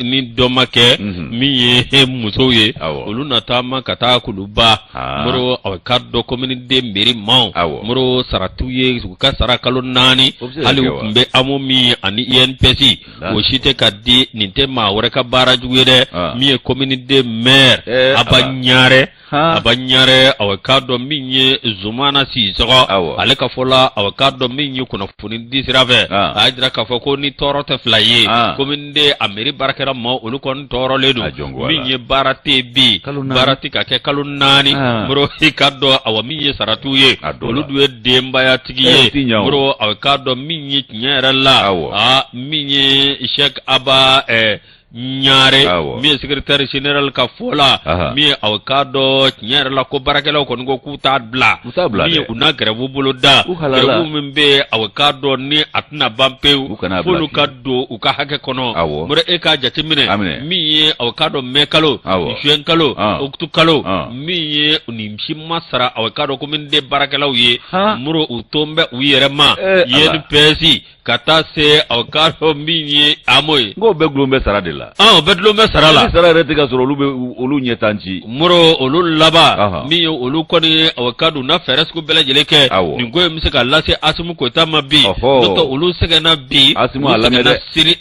ni dɔ ma kɛ, unhun, min ye musow ye, awɔ, olu na taama ka taa Kuluba, aa, Moro aw k'a dɔn commune 2 mairie maaw, awɔ, Moro sara t'u ye u ka sara kalo 4 o bɛ se ka kɛ wa? hali u tun bɛ AMO min ani INPS Nka- o si tɛ ka di nin tɛ maa wɛrɛ ka baara jugu ye dɛ Ah. min ye komini de mɛr Eh, aba ah. ɲare Han. aba ɲare aw k'a dɔn min ye zumana sisɔkɔ Awɔ. ale ka fɔ la aw k'a dɔn min ye kunnafoni di sira fɛ Ah. a y'a jira k'a fɔ ko ni tɔɔrɔ tɛ fila ye Ah. komini de a meri baarakɛla maaw olu kɔni tɔɔrɔlen don A jɔn ko a la. min ye baara tɛ bi Kalo naani. baara tɛ ka kɛ kalo naani Ah. moro i k'a dɔn awa min ye sara t'u ye A dɔn olu la. dun ye denbayatigi Eh, ye tiɲɛ o. moro aw k'a dɔn min ye tiɲɛ yɛrɛ la Awɔ. aa min ye Sheikh Aba ɛɛ Ɲare Awɔ. min ye secrétaire général ka fɔ la Aha. min ye aw k'a dɔn tiɲɛ yɛrɛ la ko baarakɛlaw kɔni ko k'u t'a bila U t'a bila min ye dɛ. u na grève boloda U halala. grève min bɛ yen aw k'a dɔn ni a tɛna ban pewu U kana a bila f'olu ka fiyewu. don u ka hakɛ kɔnɔ Awɔ. moro e k'a jateminɛ A minɛ. min ye aw k'a dɔn mai kalo Awɔ. juin kalo An. octobre kalo An. min ye nin si ma sara aw k'a dɔn komini de baarakɛlaw ye moro u tun bɛ u yɛrɛ ma INPS ka taa se aw k'a dɔn min ye amo ye nk'o bɛɛ dulon bɛ sara de la o bɛɛ dulon bɛ sara la sara yɛrɛ tɛ ka sɔrɔ olu bɛ olu ɲɛ tan ci moro olu laban min ye olu kɔni ye aw k'a dɔn na fɛɛrɛ sugu bɛɛ lajɛlen kɛ nin ko in bɛ se ka lase asimi goyita ma bi n'o tɛ olu sɛgɛnna bi a lamɛn asimi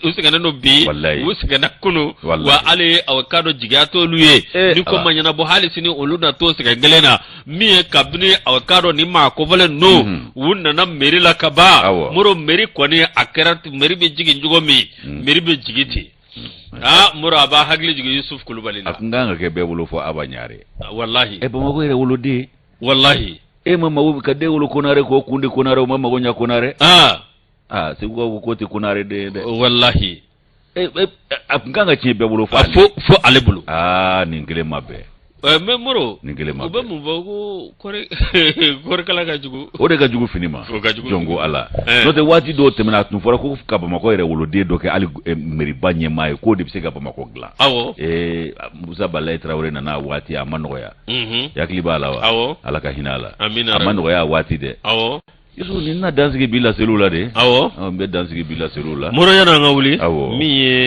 u sɛgɛnnen don bi u sɛgɛnna kunun Wallahi. wa hali aw k'a dɔn jigiya t'olu ye Eh, ni ko ala. ma ɲɛnabɔ hali sini olu na t'o sɛgɛn kelen na min ye kabini aw ka dɔ ni maa kofɔlen ninnu Mhm. u nana meri la ka ban Awɔ. moro meri kɔni a kɛra t- meri bɛ jigin cogo min Mm. meri bɛ jigin ten aa moro a b'a hakili jigin yusuf kulubali la a kun kan ka kɛ bɛɛ bolo fo aba ɲare walahi ɛ bamakɔ yɛrɛ woloden walahi e ma mago ka den wolo konare k'o kun di konare o ma mago ɲa konare aa aa segu ka ko tɛ konare den ye dɛ walahi A tun kan ka tiɲɛ bɛɛ bolo fo fo ale bolo aa nin gɛlɛnman bɛɛ mɛ moro nin gɛlɛnman bɛɛ u bɛ mun fɔ ko kɔɔri kala ka jugu o de ka jugu fini ma jɔn ko ala n'o tɛ waati dɔw tɛmɛna a tun fɔra ko ka bamakɔ yɛrɛ woloden dɔ kɛ hali mɛriba ɲɛmaa ye k'o de bɛ se ka bamakɔ dilan awɔ musa badulayi tarawele nana a waati a ma nɔgɔya i hakili b'a la wa ala ka hinɛ a la a ma nɔgɔya a waati dɛ Isufu nin na dansigi b'i laseliw la de, awɔ, ɔ n bɛ dansigi b'i laseliw la, Moro yan'an ka wuli, awɔ, min ye